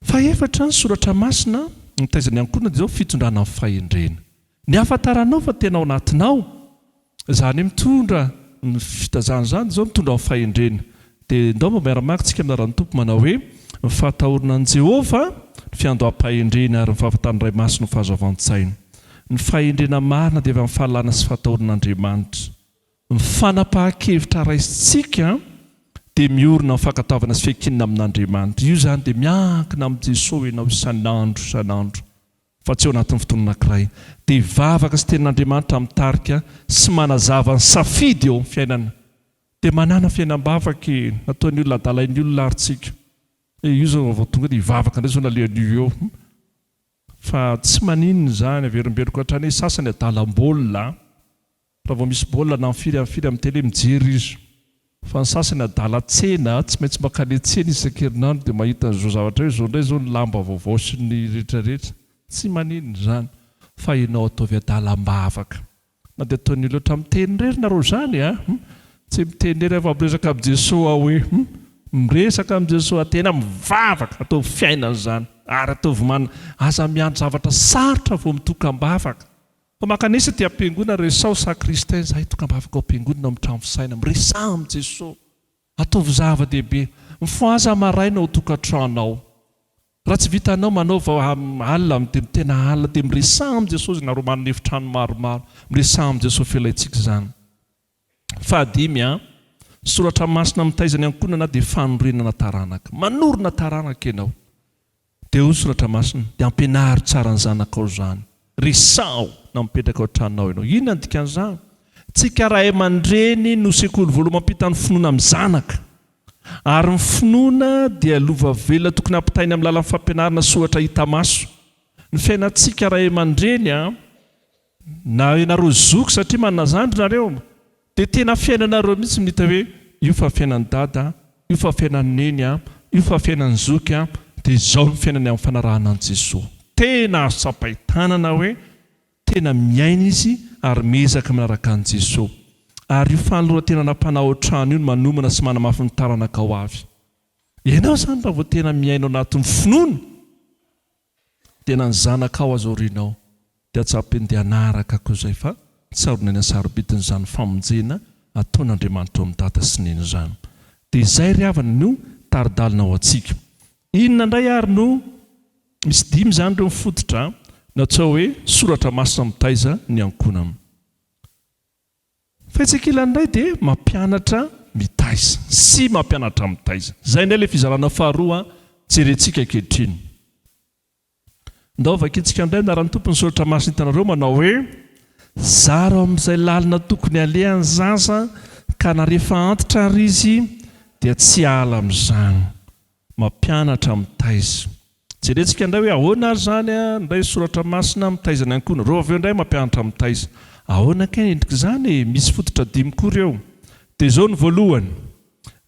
Fahefatra ny soratra masina mitaiza ny ankohonana dia izao, fitondrana amin'ny fahendrena. Ny ahafantaranao fa tena ao anatinao izany hoe mitondra ny fitazana izany dia izao, mitondra amin'ny fahendrena. Dia ndao mba miara-maka isika amin'ny anaran'ny Tompo manao hoe, Ny fahatahorana an'i Jehovah, ny fiandoham-pahendreny ary ny fahafantaran'ny Ray Masina ho fahazoavan-tsaina. Ny fahendrena marina dia avy amin'ny fahalalana sy fahatahoran'Andriamanitra. Ny fanapahan-kevitra raisintsika dia miorina amin'ny fankatoavana sy fiankinana amin'Andriamanitra. Io izany dia miankina amin'i Jesoa ianao isan'andro isan'andro. fa tsy ao anatin'ny fotoana anankiray, dia hivavaka sy hiteny an'Andriamanitra mitarika sy manazava ny safidy eo amin'ny fiainana, dia manana fiainam-bavaka e! nataon'ny olona adalain'ny olona ary tsika e! io izao vao tonga dia hivavaka indray izao nalehan'io eo hum! fa tsy maninona izany, averimberiko hatrany hoe sasany adalam-baolina an! Raha vao misy baolina na firy amin'ny firy amin'ny tele mijery izy. Fa ny sasany adala tsena, tsy maintsy mankany tsena izy isan-kerinandro dia mahita an'izao zavatra io, izao indray izao ny lamba vaovao sy ny rehetrarehetra. Tsy maninona izany fa ianao ataovy adalam-bavaka. Na dia ataon'ny olona ohatran'ny miteny irery nareo izany a! hum! Tsy miteny irery aho fa miresaka amin'i Jesoa aho hoe hum! Miresaka amin'i Jesoa aho, tena mivavaka, ataovy fiainana izany ary ataovy manana, aza miandry zavatra sarotra vao mitoka am-bavaka. Ho mankanesa aty am-piangonana, resaho sakristain, izahay tokam-bavaka ao am-piangonana ao amin'ny trano fisainana, miresaha amin'i Jesoa, ataovy zava-dehibe, mifohaza maraina ao tokantranonao, raha tsy vitanao manaova alina amin'ny dia mitena alina dia miresaha amin'i Jesoa izy nareo manana efitrano maromaro, miresaha amin'i Jesoa felahintsika izany. Fahadimy, Soratra masina mitaiza ny ankohonana dia fanorenana taranaka. Manorina taranaka ianao. Dia hoy ny soratra masina, dia ampianaro tsara ny zanakao izany. Resaho na mipetraka ao an-tranonao ianao. Inona no dikan'izany? Tsika ray aman-dreny no sekoly voalohany mampita ny finoana amin'ny zanaka. Ary ny finoana dia lova velona tokony hampitaina amin'ny lalan'ny fampianarana soratra hita maso. Ny fiainantsika ray aman-dreny. Na ianareo zoky satria manana zandry nareo dia tena fiainanareo mihitsy no hita hoe io fa fiainan'i dada, io fa fiainan'i neny, io fa fiainan'i zoky dia izao no fiainany amin'ny fanarahana an'i Jesoa. Tena azo tsapain-tanana hoe tena miaina izy ary miezaka manaraka an'i Jesoa. Ary io fanoloran-tenana mpanaotrano io no manomana sy manamafy ny taranaka ho avy. Ianao izany raha vao tena miaina ao anatin'ny finoana Tena ny zanakao aza aorianao dia tsy hampendea hanaraka koa izay fa tsarona eny an-sarobidiny izany famonjena ataon'Andriamanitra ao amin'ny dada sy neny izany. Dia izay ry havana no tari-dalana ho antsika. Inona indray ary no misy dimy izany ireo mifototra natsoa hoe soratra masina mitaiza ny ankohonana. Fetsik'ilany indray dia mampianatra mitaiza sy mampianatra mitaiza. Izay indray ilay fizarana faharoa jerentsika ankehitriny. Ndao vakintsika indray ny anaran'ny Tompo ny soratra masina hitanareo manao hoe, Zara ao amin'izay lalina tokony halehany ny zaza ka na rehefa antitra ary izy dia tsy hahala amin'izany. Mampianatra mitaiza. Jerentsika indray hoe ahoana ary izany indray soratra masina mitaiza ny ankohonana. Ireo avy eo indray mampianatra mitaiza. Ahoana kay ny endrik'izany e? Misy fototra dimy koa ireo. Dia izao ny voalohany,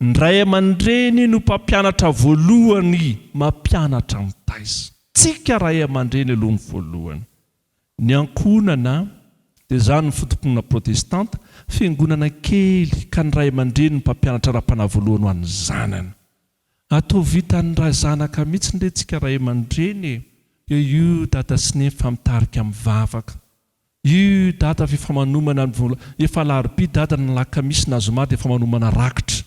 Ny ray aman-dreny no mpampianatra voalohany mampianatra mitaiza. Tsika ray aman-dreny aloha ny voalohany. Ny ankohonana dia izany ny foto-pinoana protestanta, fiangonana kely ka ny ray aman-dreny no mpampianatra ara-panahy voalohany ho an'ny zanany. Ah toa vitan'ny ra zanaka mihitsy re tsika ray aman-dreny e! Dia io dada sy neny fa mitarika amin'ny vavaka. Io dada fa efa manomana ny vola, efa alarobia dada na alakamisy na zoma dia efa manomana rakitra.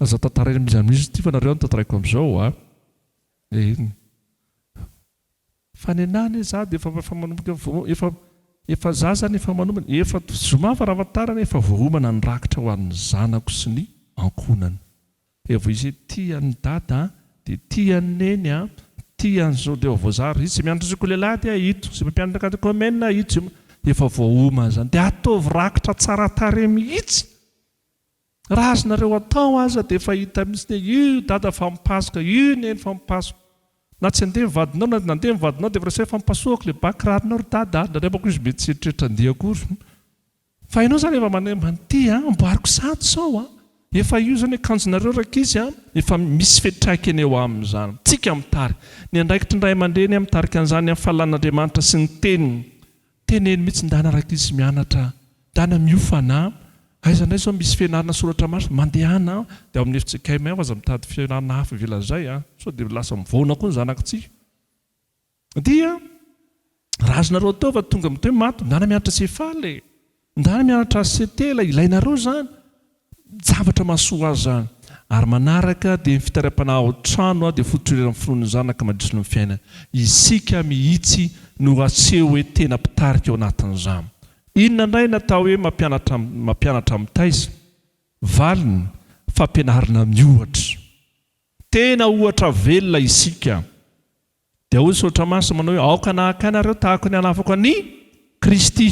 Aza tantaraina mizano izy ity fa nareo no tantaraiko amizao a! Eny! Fa nenaha anie za de efa efa manomboka vo efa efa za zany efa manomana efa to zoma fa raha ahafantarana efa voaomana ny rakitra ho an'ny zanako sy ny ankohonana dia vao izay tia an'i dada a! de tia an'i neny a! tia an'i zao de vao voazara izay mianatra sekolelahy dia ito izay mpampianatra katekomena ito izay efa voaomana zany de ataovy rakitra tsara tarehy mihitsy! Raha azonareo atao aza dia efa hita mihitsy ny hoe io dada fa mipasoka, io neny fa mipasoka. Na tsy handeha ny vadinao na nandeha ny vadinao dia efa resahina fa mipasohako le ba kiraronao ry dada a! Nandrabako izy mety tsy eritreritra handeha akory. Fa ianao izany efa manemba an'ity a! Amboariko sado sao a! Efa io izany akanjonareo rankizy a! Efa misy fiantraikany eo aminy izany. Tsika mitary. Ny andraikitry ny ray aman-dreny a! Mitarika an'izany amin'ny fahalalàn'Andriamanitra sy ny Teniny. Teneno mihitsy ndana rankizy mianatra ndana miofana aiza ndray zao misy fianarana soratra masina mandehana dia ao amin'ny FJKM ao aza mitady fianarana hafa ivelany izay a sao dia lasa mivaona koa ny zanak'tsika dia raha azonareo atao fa tonga mitohy maty ndana mianatra CFAL e ndana mianatra HCT ilay ilainareo izany Zavatra mahasoa azy izany. Ary manaraka dia ny fitariam-panahy ao an-trano dia fotoreran'ny finoan'ny Zanaka mandritry ny fiainana. Isika mihitsy no aseho hoe tena mpitarika ao anatin'izany. Inona indray ny atao hoe mampianatra mampianatra mitaiza? Valiny, fampianarana miohatra. Tena ohatra velona isika. Dia hoy Soratra Masina manao hoe, Aoka nahaka Ahy nareo tahaka ny hanafako an' i Kristy.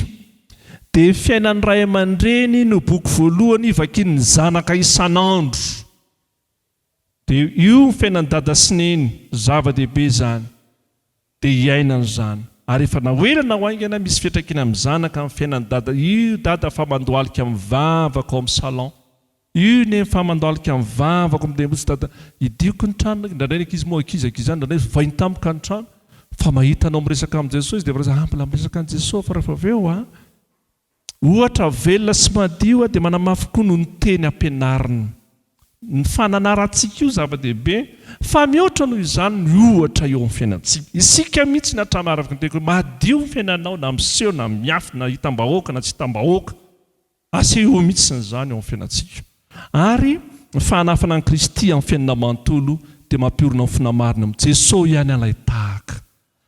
Dia fiainan'ny ray aman-dreny no boky voalohany vakian'ny zanaka isan'andro. Dia io ny fiainan'i Dada sy Neny, zava-dehibe izany. Dia hiainany izany. Ary efa naoelana ho haingana, misy fiantraikany amin'ny zanaka ny fiainan'i Dada. Io Dada fa mandohalika mivavaka ao amin'ny salon. Io ne fa mandalika ny vavako mde mbotsy dada idioko ny tranonay indraindray ny ankizy moa ankizy ankizy ihany indraindray vainy tampoka ny trano fa mahita anao miresaka amin'i Jesosy izy de efa lasa ah mbola miresaka an'i Jesosy fa rehefa avy eo ah ohatra velona sy madio ah de manamafy koa noho ny teny ampianariny ny fananarantsika io zava-dehibe fa mihoatra noho izany ny ohatra eo amin'ny fiainantsika isika mihitsy ny hatrany araka ny teniko hoe madio ny fiainanao na miseho na miafina hitam-bahoaka na tsy hitam-bahoaka Asehoy mihitsy izany eo amin'ny fiainantsika. Ary ny fanafana an'i Kristy amin'ny fiainana manontolo dia mampiorina ny finoana marina amin'i Jeso ihany alay tahaka.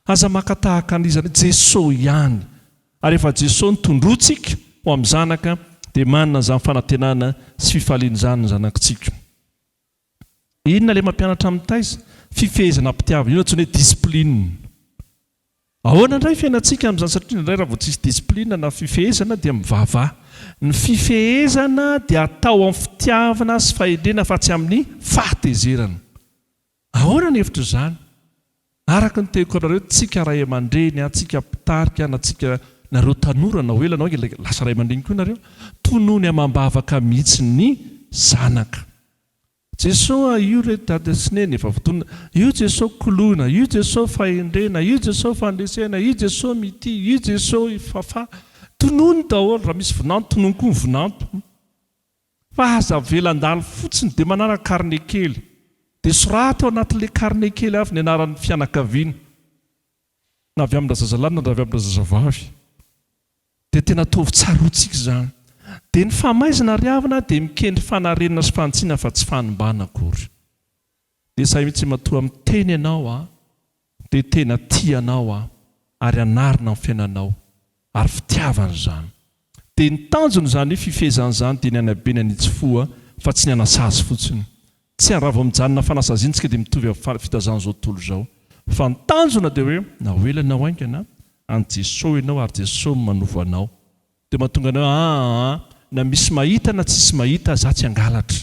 Aza maka tahaka an'iza na Jeso ihany. Ary efa Jeso no tondrointsika ho amin'ny zanaka dia manana izany fanantenana sy fifaliana izany ny zanakitsika. Inona ilay mampianatra amin'ny taiza? Fifehezana ampitiavina, io no antsoina hoe discipline. Ahoana indray fiainantsika amin'izany satria indraindray raha vao tsisy discipline na fifehezana dia mivava. Ny fifehezana dia atao amin'ny fitiavana sy fahendrena fa tsy amin'ny fahatezerana. Ahoana ny hevitr'izany? Araka ny teoko anareo tsika ray amandreny an tsika mpitarika an tsika nareo tanora na ho ela na ho ela lasa ray amandreny koa nareo tonony amambavaka mihitsy ny zanaka Jesosy a io re dada sy neny efa votonona io Jesosy kolona io Jesosy fahendrena io Jesosy fandresena io Jesosy mitia io Jesosy fafah tonony daholo raha misy vinanto tonony koa ny vinanto Fa aza avela handalo fotsiny dia manaraka carnet kely dia soraty ao anatin'ilay carnet kely avy ny anaran'ny fianakaviana na avy amina zazalahy na avy amina zazavavy dia tena ataovy tsaroantsika izany dia ny famaizina ry havana dia mikendry fanarenana sy fahantsiana fa tsy fanimbana akory. Dia sahy mitsy matoa miteny ianao aho dia tena tia anao aho ary hanarina ny fiainanao ary fitiavana izany. Dia ny tanjony izany fifehezana izany dia ny hanabenana itsy foa fa tsy ny hanasazy fotsiny. Tsy any raha vao mijanona fanasaziana tsika dia mitovy amin'ny fitazana izao tontolo izao. Fa ny tanjona dia hoe na ho ela na ho haingana any Jesosy ianao ary Jesosy no manovo anao. Dia mahatonga anao aa na misy mahita na tsisy mahita za tsy hangalatra.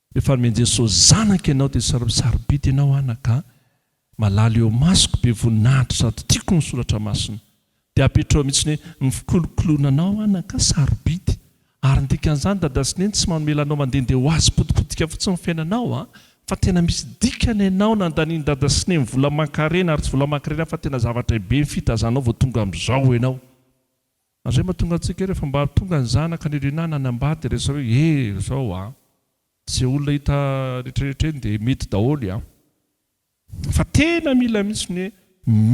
Rehefa nomen'i Jesosy zanaka ianao dia sarobidy ianao anaka a! Malala eo masoko be voninahitra sady tiako ny soratra masina. Dia apetraho mihitsy ny hoe ny fikolokoloana anao anaka a! Sarobidy. Ary ny dikan'izany dada sy neny tsy manomela anao mandehandeha ho azy potipotika fotsiny ny fiainanao a! Fa tena misy dikany ianao nandanian'i dada sy neny vola aman-karena ary tsy vola aman-karena fa tena zava-drehibe ny fitazanao vao tonga amin'izao ianao. Andriamatoa Tonga antsika rehefa mba tonga ny zanaka ny Rina na ny Ambady dia resy hoe eh zao a! Ze olona hita retraretra eny dia mety daholo a! Fa tena mila mihitsy ny hoe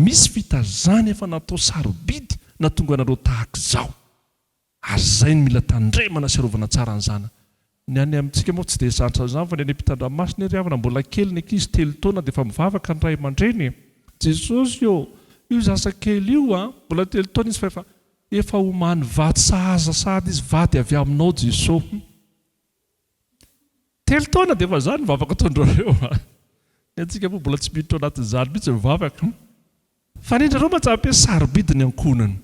misy vita zany efa natao sarobidy natonga anareo tahaka izao! Ary zay no mila tandremana sy arovana tsara ny zanaka! Ny any amintsika moa tsy dia zatra an'izany fa ny any ampitandranomasina ery havana mbola kely ny ankizy telo taona dia efa mivavaka ny ray aman-dreny e! Jesosy ô! Io zaza kely io a! Mbola telo taona izy fa efa efa omany vady sahaza sahady izy vady avy aminao Jeso hum! Telo taona dia efa zany ny vavaka ataondrareo a! Ny antsika moa mbola tsy miditra ao anatin'izany mihitsy ny vavaka. Fanindrareo majabe sarobidy ny ankohonana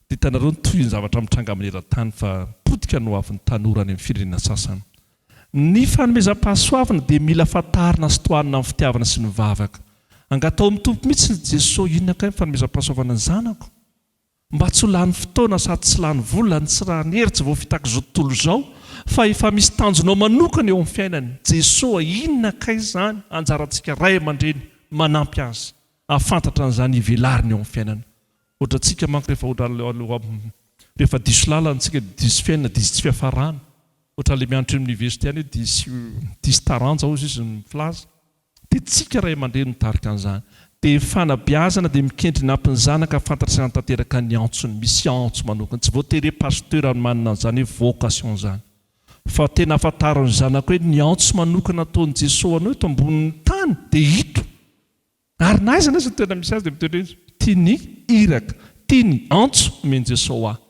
dia hitanareo ny tohin'ny zavatra mitranga maneran-tany fa potika ny hoavin'ny tanora any amin'ny firenena sasany. Ny fanomezam-pahasoavana dia mila fantarina sy tohanina amin'ny fitiavana sy ny vavaka. Angataho amin'ny Tompo mihitsy ny Jeso inona kay ny fanomezam-pahasoavana ny zanako? Mba tsy ho lany fotoana sady tsy lany vola ny tsy rà ny hery tsy voafitak'izao tontolo izao fa efa misy tanjonao manokana eo amin'ny fiainany Jesoa inona kay izany anjarantsika ray aman-dreny ny manampy azy ahafantatra an'izany hivelariny eo amin'ny fiainana ohatrantsika manko rehefa ohatran'ilay rehefa diso lalana tsika dia diso fiainana diso tsy fiafarana ohatran'ilay mianatra eo amin'ny université any hoe diso diso taranja hozy izy mifilaza Dia tsika ray aman-dreny mitarika an'izany. Dia fanabeazana dia mikendry ny hampy ny zanaka hafantatra sy hanatanteraka ny antsony. Misy antso manokana. Tsy voatery hoe pasteur no manana an'izany hoe vocation izany. Fa tena hafantaro ny zanaka hoe ny antso manokana ataon'i Jesoa ho anao eto ambonin'ny tany dia ito. Ary na aiza na aiza no toerana misy azy dia mitoetra etsy. Tia ny iraka. Tia ny antso omen'i Jesoa ho ahy.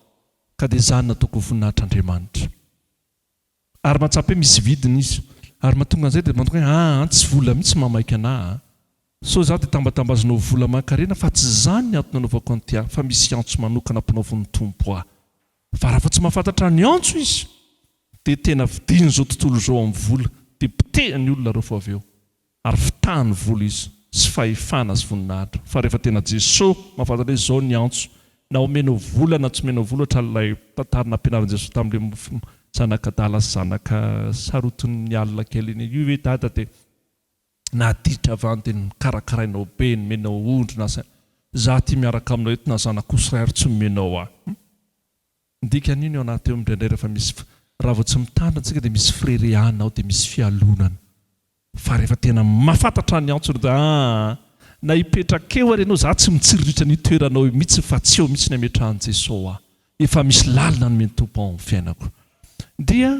Ka dia izany nataoko ho voninahitr'Andriamanitra. Ary mahatsapa hoe misy vidiny izy. Ary mahatonga an'izay dia mahatonga hoe aa tsy vola mihitsy mamaika anah a. Sao za dia tambatambazinao vola aman-karena fa tsy izany ny antony anaovako an'ity a, fa misy antso manokana ampanaovin'ny Tompo ahy. Fa raha vao tsy mahafantatra ny antso izy dia tena vidin'izao tontolo izao amin'ny vola dia potehiny olona ireo fo avy eo. Ary fitahany vola izy sy fahefana sy voninahitra fa rehefa tena Jesoa mahafantatra hoe izao ny antso na omenao vola na tsy omenao vola ohatra ilay tantara nampianarin'i Jesoa tamin'ilay mofo zanak'adala sy zanaka sarotin'ny alina kely iny io hoe dada dia naditra avy any dia nokarakarainao be nomenao ondry na za aty miaraka aminao eto na zanak'osy iray ary tsy nomenao ahy Dikan'io ny ao anaty eo indraindray rehefa misy f, raha vao tsy mitandrina antsika dia misy firereana ao dia misy fialonana. Fa rehefa tena mahafantatra ny antso dia aa na hipetraka eo ary ianao za tsy mitsiriritra an'io toeranao io mitsy fa tsy eo mitsy ny ametrahan'i Jeso aho. Efa misy lalina nomen'i Tompo ao amin'ny fiainako. Dia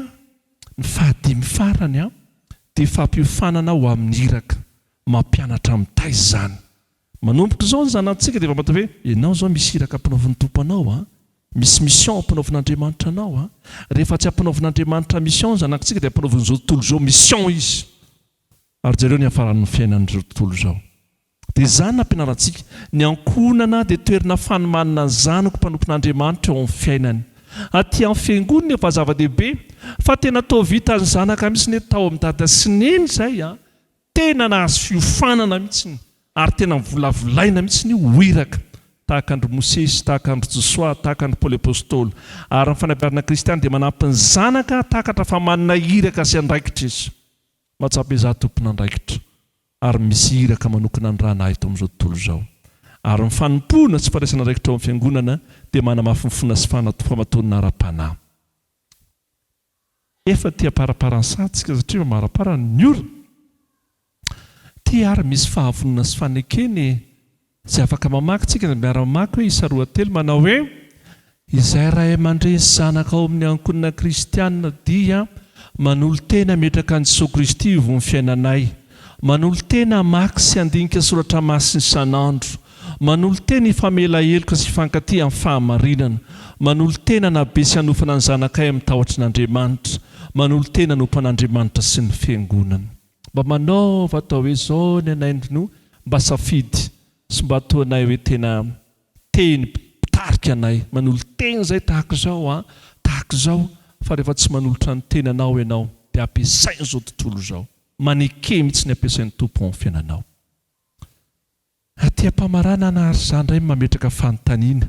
ny fahadimy farany an, dia fampiofanana ho amin'ny iraka. Mampianatra mitaiza izany. Manomboka izao ny zanatsika dia efa mahita hoe ianao izao misy iraka ampinaovin'ny Tompo anao a, misy mission ampinaovin'Andriamanitra anao a, rehefa tsy ampinaovin'Andriamanitra mission ny zanakitsika dia ampinaovin'izao tontolo izao mission izy. Ary jereo ny hafaran'ny fiainan'izao tontolo izao. Dia izany ny ampianarantsika, ny ankohonana dia toerana fanomanana ny zanako mpanompon'Andriamanitra eo amin'ny fiainany. Aty amin'ny fiangonana efa zava-dehibe fa tena toa vitan'ny zanaka mihitsy ny hoe tao amin'i Dada sy Neny izay a, Tena nahazo fiofanana mihitsy ary tena mivolavolaina mihitsy io ho iraka tahaka an-dry Mosesy, tahaka an-dry Josoa, tahaka an-dry Paoly Apôstôly. Ary ny fanabeazana kristiana dia manampy ny zanaka hahatakatra fa manana iraka sy andraikitra izy. Mahatsapa izaho tompon'andraikitra ary misy iraka manokana andrana ahy eto amin'izao tontolo izao. Ary ny fanompoana sy fandraisana andraikitra ao amin'ny Fiangonana dia manamafy ny finoana sy fahamatorana ara-panahy. Efa tia aparapara ny saha tsika satria efa marapara ny ora. Tia ary misy fahavonona sy fanekena e! Izay afaka mamaky tsika dia miara mamaky hoe isa roa telo manao hoe, Izay ray aman-dreny sy zanaka ao amin'ny ankohonana kristiana dia manolo-tena hametraka an'i Jesoa Kristy ho ivon'ny fiainanay. Manolo-tena hamaky sy handinika soratra masina isan'andro. Manolo-tena hifamela heloka sy hifankatia amin'ny fahamarinana. Manolo-tena hanabe sy hanofana ny zanakay amin'ny tahotry ny Andriamanitra. Manolo-tena hanompo an'Andriamanitra sy ny Fiangonana. Mba manaova atao hoe izao ny anay no mba safidy sy mba ataonay hoe tena tehin'ny mpitarika anay. Manolo-tena izay tahaka izao an, tahaka izao fa rehefa tsy manolotra ny tenanao ianao dia ampiasain'izao tontolo izao. Maneke mihitsy ny ampiasain'ny Tompo ao amin'ny fiainanao. Aty am-pamaranana aho ary izaho indray mametraka fanontaniana.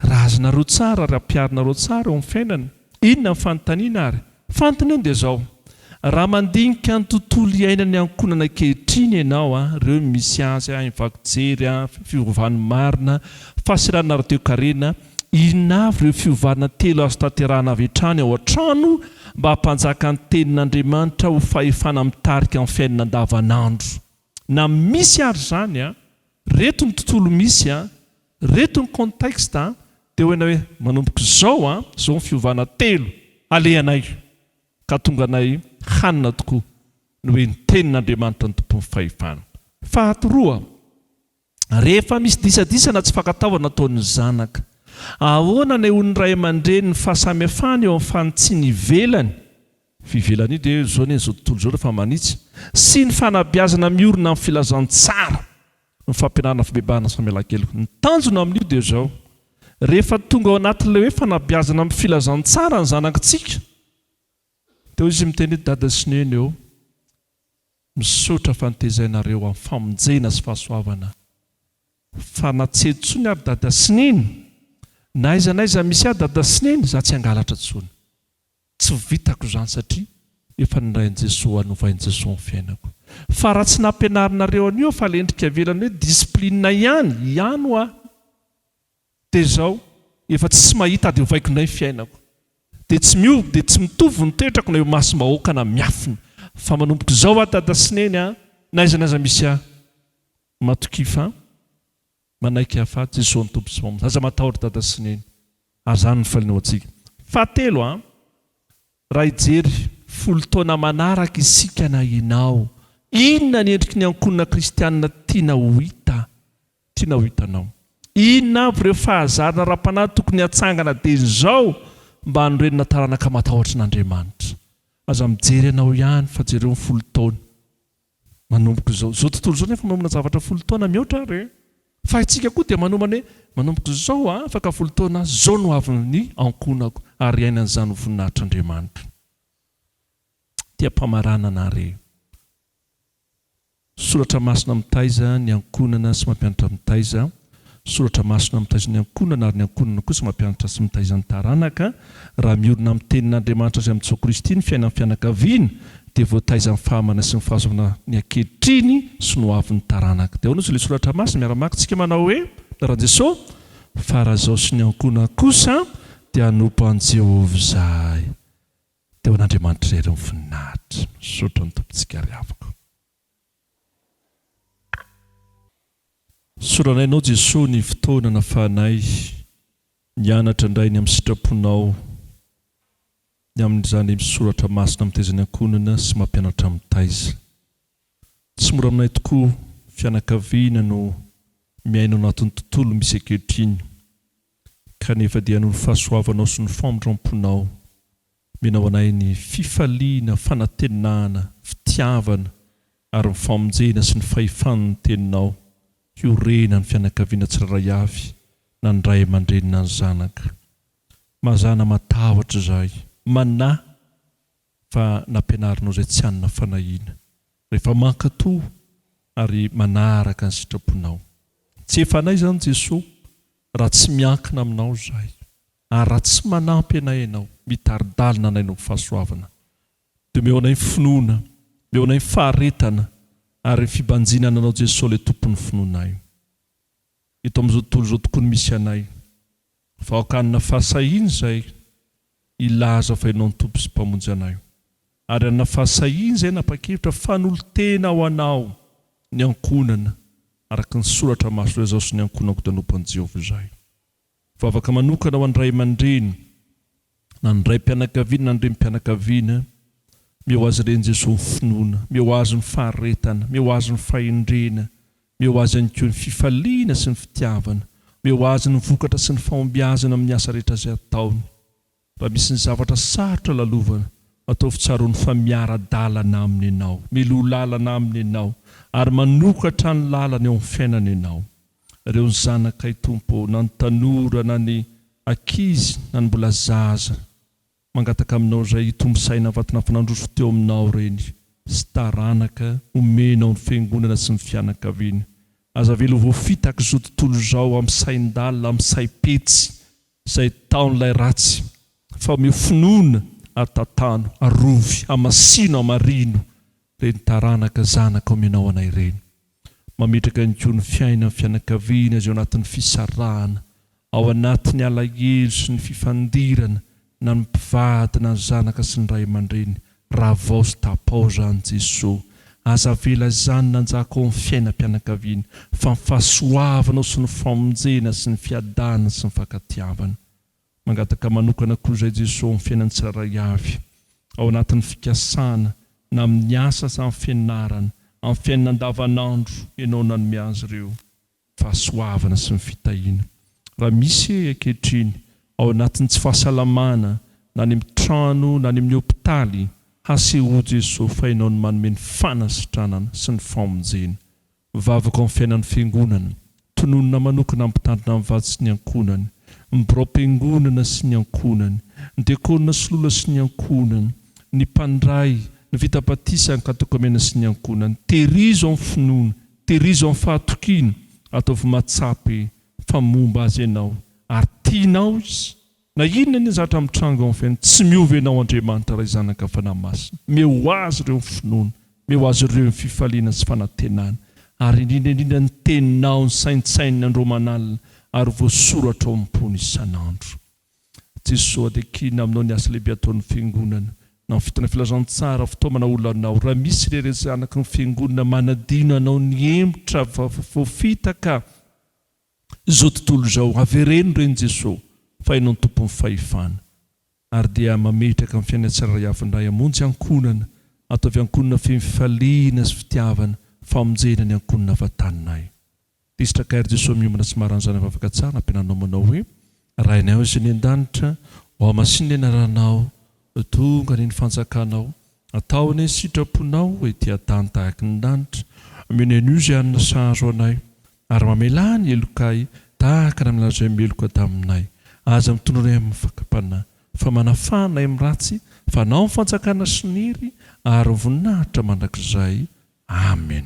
Raha azonareo tsara ary ampiharinareo tsara eo amin'ny fiainana, inona ny fanontaniana ary? Fantony anie dia izao, raha mandinika ny tontolo iainan'ny ankohonana ankehitriny ianao, ireo misy azy, infakjery, fiovany marina, fahaserana ara-toekarena, Inona avy ireo fiovana telo azo tanterahana avy hatrany ao an-trano mba hampanjaka ny Tenin'Andriamanitra ho fahefana mitarika ny fiainana andavanandro? Na misy ary izany, ireto ny tontolo misy, ireto ny contexte dia hoena hoe manomboka izao, izao ny fiovana telo alehanay ka hatonga anay hanana tokoa ny hoe ny Tenin'Andriamanitra no Tompon'ny fahefana. Faharoa. Rehefa misy disadisa na tsy fankatoavana ataon'ny zanaka, ahoana anehoan'ny ray aman-dreny ny fahasamihafana eo amin'ny fanitsiana ivelany, fivelan'io dia izao anie izao tontolo izao rehefa manitsy, sy ny fanabeazana miorina amin'ny filazantsara, ny fampianarana fibebahana samy alankeloka? Ny tanjona amin'io dia izao, rehefa tonga ao anatin'ilay hoe fanabeazana amin'ny filazantsara ny zanaktsika, teo izy miteny hoe dada sy neny ô, Misaotra fa notezainareo amin'ny famonjena sy fahasoavana fa na tsy eto tsony ary dada sy neny na aiza na aiza misy ahy dada sy neny za tsy hangalatra tsony tsy vitako zany satria efa nirain'i Jesoa hanovain'i Jesoa ny fiainako fa raha tsy nampianarinareo anio aho fa lendrika avelany hoe discipline ihany ihany hoaho Dia izao, efa tsisy mahita dia ovaiko indray ny fiainako. Dia tsy miova dia tsy mitovy ny toetrako na eo imasom-bahoaka na miafina. Fa manomboka izao aho dada sy neny a, na aiza na aiza misy ahy. Matokia fa manaiky ahy fa Jesoa ny Tompo sy Mpamonjy. Aza matahotra dada sy neny. Ary izany no faliana ho antsika. Fahatelo a. Raha hijery folo taona manaraka isika na ianao, inona ny endriky ny ankohonana kristianina tiana ho hita, tiana ho hitanao? Inona avy ireo fahazarana ara-panahy tokony hatsangana dieny izao mba hanorenana taranaka matahotra an'Andriamanitra? Aza mijery anao ihany fa jereo ny folo taona. Manomboka izao. Izao tontolo izao nefa manomana zavatra folo taona mihoatra ary eh! Fa isika koa dia manomana hoe manomboka izao aho afaka folo taona aho, izao no avy ny ankohonako ary hiaina an'izany ho voninahitr'Andriamanitra. Tiam-pamaranana ary eh! Soratra masina mitaiza ny ankohonana sy mampianatra mitaiza Soratra masina mitaiza ny ankohonana ary ny ankohonana kosa mampianatra sy mitaiza ny taranaka. Raha miorina amin'ny Tenin'Andriamanitra sy amin'i Jesoa Kristy ny fiainan'ny fianakaviana dia voataiza amin'ny fahamanana sy ny fahazoana ny ankehitriny sy ny hoavin'ny taranaka. Dia ahoana ozy ilay soratra masina? Miara-maka tsika manao hoe, Ran Jesoa, fa raha izao sy ny ankohonana kosa dia hanompo an'i Jehovah izahay. Dia ho an'Andriamanitra irery ny voninahitra. Misaotra ny Tompontsika ry havako. Soranay Anao Jesoa ny fotoana nafahanay nianatra indray ny amin'ny sitraponao ny amin'izany soratra masina mitaiza ny ankohonana sy mampianatra mitaiza. Tsy mora aminay tokoa fianakaviana no miaina ao anatin'ny tontolo misy ankehitriny kanefa dia noho ny fahasoavanao sy ny famindramponao Mena ho anay ny fifaliana, fanantenana, fitiavana ary ny famonjena sy ny fahefan' ny Teninao, hiorena ny fianakaviana tsirairay avy na ny ray aman-dreny na ny zanaka. Mazàna matahotra izahay, manahy, fa nampianarinao izay tsy hanana fanahiana, rehefa mankatò ary manaraka ny sitraponao. Tsy efa anay izany Jesoa, raha tsy miankina aminao izahay. Ary raha tsy manampy anay ianao, mitari-dalina anay noho ny fahasoavana, dia omeo anay ny finoana, omeo anay ny faharetana ary ny fibanjina ny Anao Jesoa ilay Tompon'ny finoanay. Eto amin'izao tontolo izao tokoa no misy anay, fa aoka hanana fahasahiana izay hilaza fa Ianao no Tompo sy Mpamonjy anay, ary hanana fahasahiana izay hanapa-kevitra fanolotena ho Anao ny ankohonana araka ny soratra maso ilay Zaho sy ny ankohonako dia hanompo an'i Jehovah izay. Vavaka manokana ho an'ny ray aman-dreny na ny raim-pianakaviana na ny renim-pianakaviana. Miha ho azy ireny Jesoa ny finoana, miha ho Azy ny faharetana, miha ho Azy ny fahendrena, miha ho Azy ihany koa ny fifaliana sy ny fitiavana, miha ho Azy ny vokatra sy ny fahombiazana amin'ny asa rehetra izay ataony. Mba misy ny zavatra sarotra lalovana, ataovy tsaroany fa miara-dalana aminy ianao, miloha lalana aminy ianao ary manokatra ny lalany eo amin'ny fiainany ianao. Ireo ny zanakay Tompo ô, na ny tanora na ny ankizy na ny mbola zaza, mangataka aminao izay hitombo saina vaton'afo nandroso teo aminao reny sy taranaka omenao ny fiangonana sy ny fianakaviana, aza avela ho voafitaka izao tontolo izao amin'ny sain-dalina, amin'ny saim-petsy izay taon'ilay ratsy, fa omeo finoana ary tantano, arovy, hamasino, hamarino ireny taranaka zanaka omenao anay ireny. Mametraka ihany koa ny fiainan'ny fianakaviana izay ao anatin'ny fisarahana, ao anatin'ny alahelo sy ny fifandirana na ny mpivady na ny zanaka sy ny ray aman-dreny Ravao sy tapao zany Jeso aza avela izany nanjaka ao amin'ny fiainam-pianakaviana fa ny fahasoavanao sy ny famonjena sy ny fiadanana sy ny fankatiavana. Mangataka manokana koa izay Jeso amin'ny fiainan'ny tsirairay avy ao anatin'ny fikasana na amin'ny asa aza amin'ny fianarana, amin'ny fiainana andavanandro Ianao nanome azy ireo. fahasoavana sy ny fitahiana. Raha misy ehy ankehitriny ao anatin'ny tsy fahasalamana na any amin'ny trano na any amin'ny hopitaly, hasehoy Jesoa fa Ianao no manome ny fanasitranana sy ny famonjena. Vavaka amin'ny fiainan'ny Fiangonana, tononina manokana hampitandrina ny vady sy ny ankohonany, ny biraom-piangonana sy ny ankohonany, ny diakona sy lola sy ny ankohonany, ny mpandray, ny vita batisa, ny katôkemena sy ny ankohonany. Tehirizo amin'ny finoana, Tehirizo amin'ny fahatokiana, ataovy matsapa fa momba azy ianao ary tianao izy. Na inona na inona zavatra mitranga ao amin'ny fiainany, tsy miova ianao Andriamanitra Ray, Zanaka, Fanahy Masina. Omeo ho azy ireo ny finoana, omeo azy ireo ny fifaliana sy fanantenana, ary indrindra indrindra ny Teninao nosaintsaininy andro aman'alina ary voasoratra ao am-pony isan'andro. Jesoa dia kina aminao ny asa lehibe ataon'ny Fiangonana. Amin'ny fotoana filazantsara, fitaomana olanao. Raha misy irery zanaky ny Fiangonana manadino anao ny hemotra voafitaka izao tontolo izao, avereno ireny Jesoa fa Ianao no Tompon'ny fahefana. Ary dia mametraka ny fiainanay tsirairay avy indray hamonjy ankohonana. Ataovy ankohonana feno fifaliana sy fitiavana, famonjena ny ankohonana vataninay. Tezitra Kair Jesoa miombona tsy marany zany avavaka tsara ampiananao manao hoe Rainay ao izay any an-danitra ao masiny ny anaranao tonga anie ny fanjakanao atao anie ny sitraponao ety an-tany tahaky ny lanitra omeo ny anio izay hanina sahazo anay ary mamelà ny helokay tahaka ny aminareo izay meloka taminay aza mitondra anay amin'ny fakam-panahy fa manafà anay amin'ny ratsy fa anao ny fanjakana sy ny hery ary ny voninahitra mandrakizay Amen.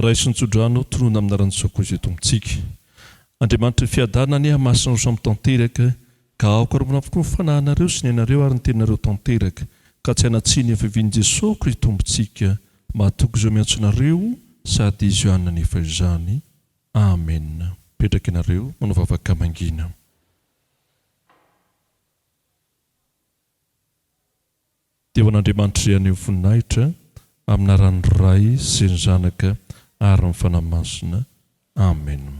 Raiso ny tsodrano, tonony amina ranosoa koa izay Tompontsika. Andriamanitry ny fiadanana anie hamasina ho samy tanteraka, ka hahokaromana avokoa ny fanahinareo sy ny ainareo ary ny teninareo tanteraka, ka tsy hanatsiny ny hafiavian'i Jesoa ko ry Tompontsika mahatoky izao miantso anareo sady Izy ihany nanefa izany. Amen. Mipetraka ianareo, manao vavaka mangina. Dia ho an'Andriamanitry anio ny voninahitra, amin'ny anaran'ny Ray sy ny Zanaka ary ny Fanahy Masina. Amena.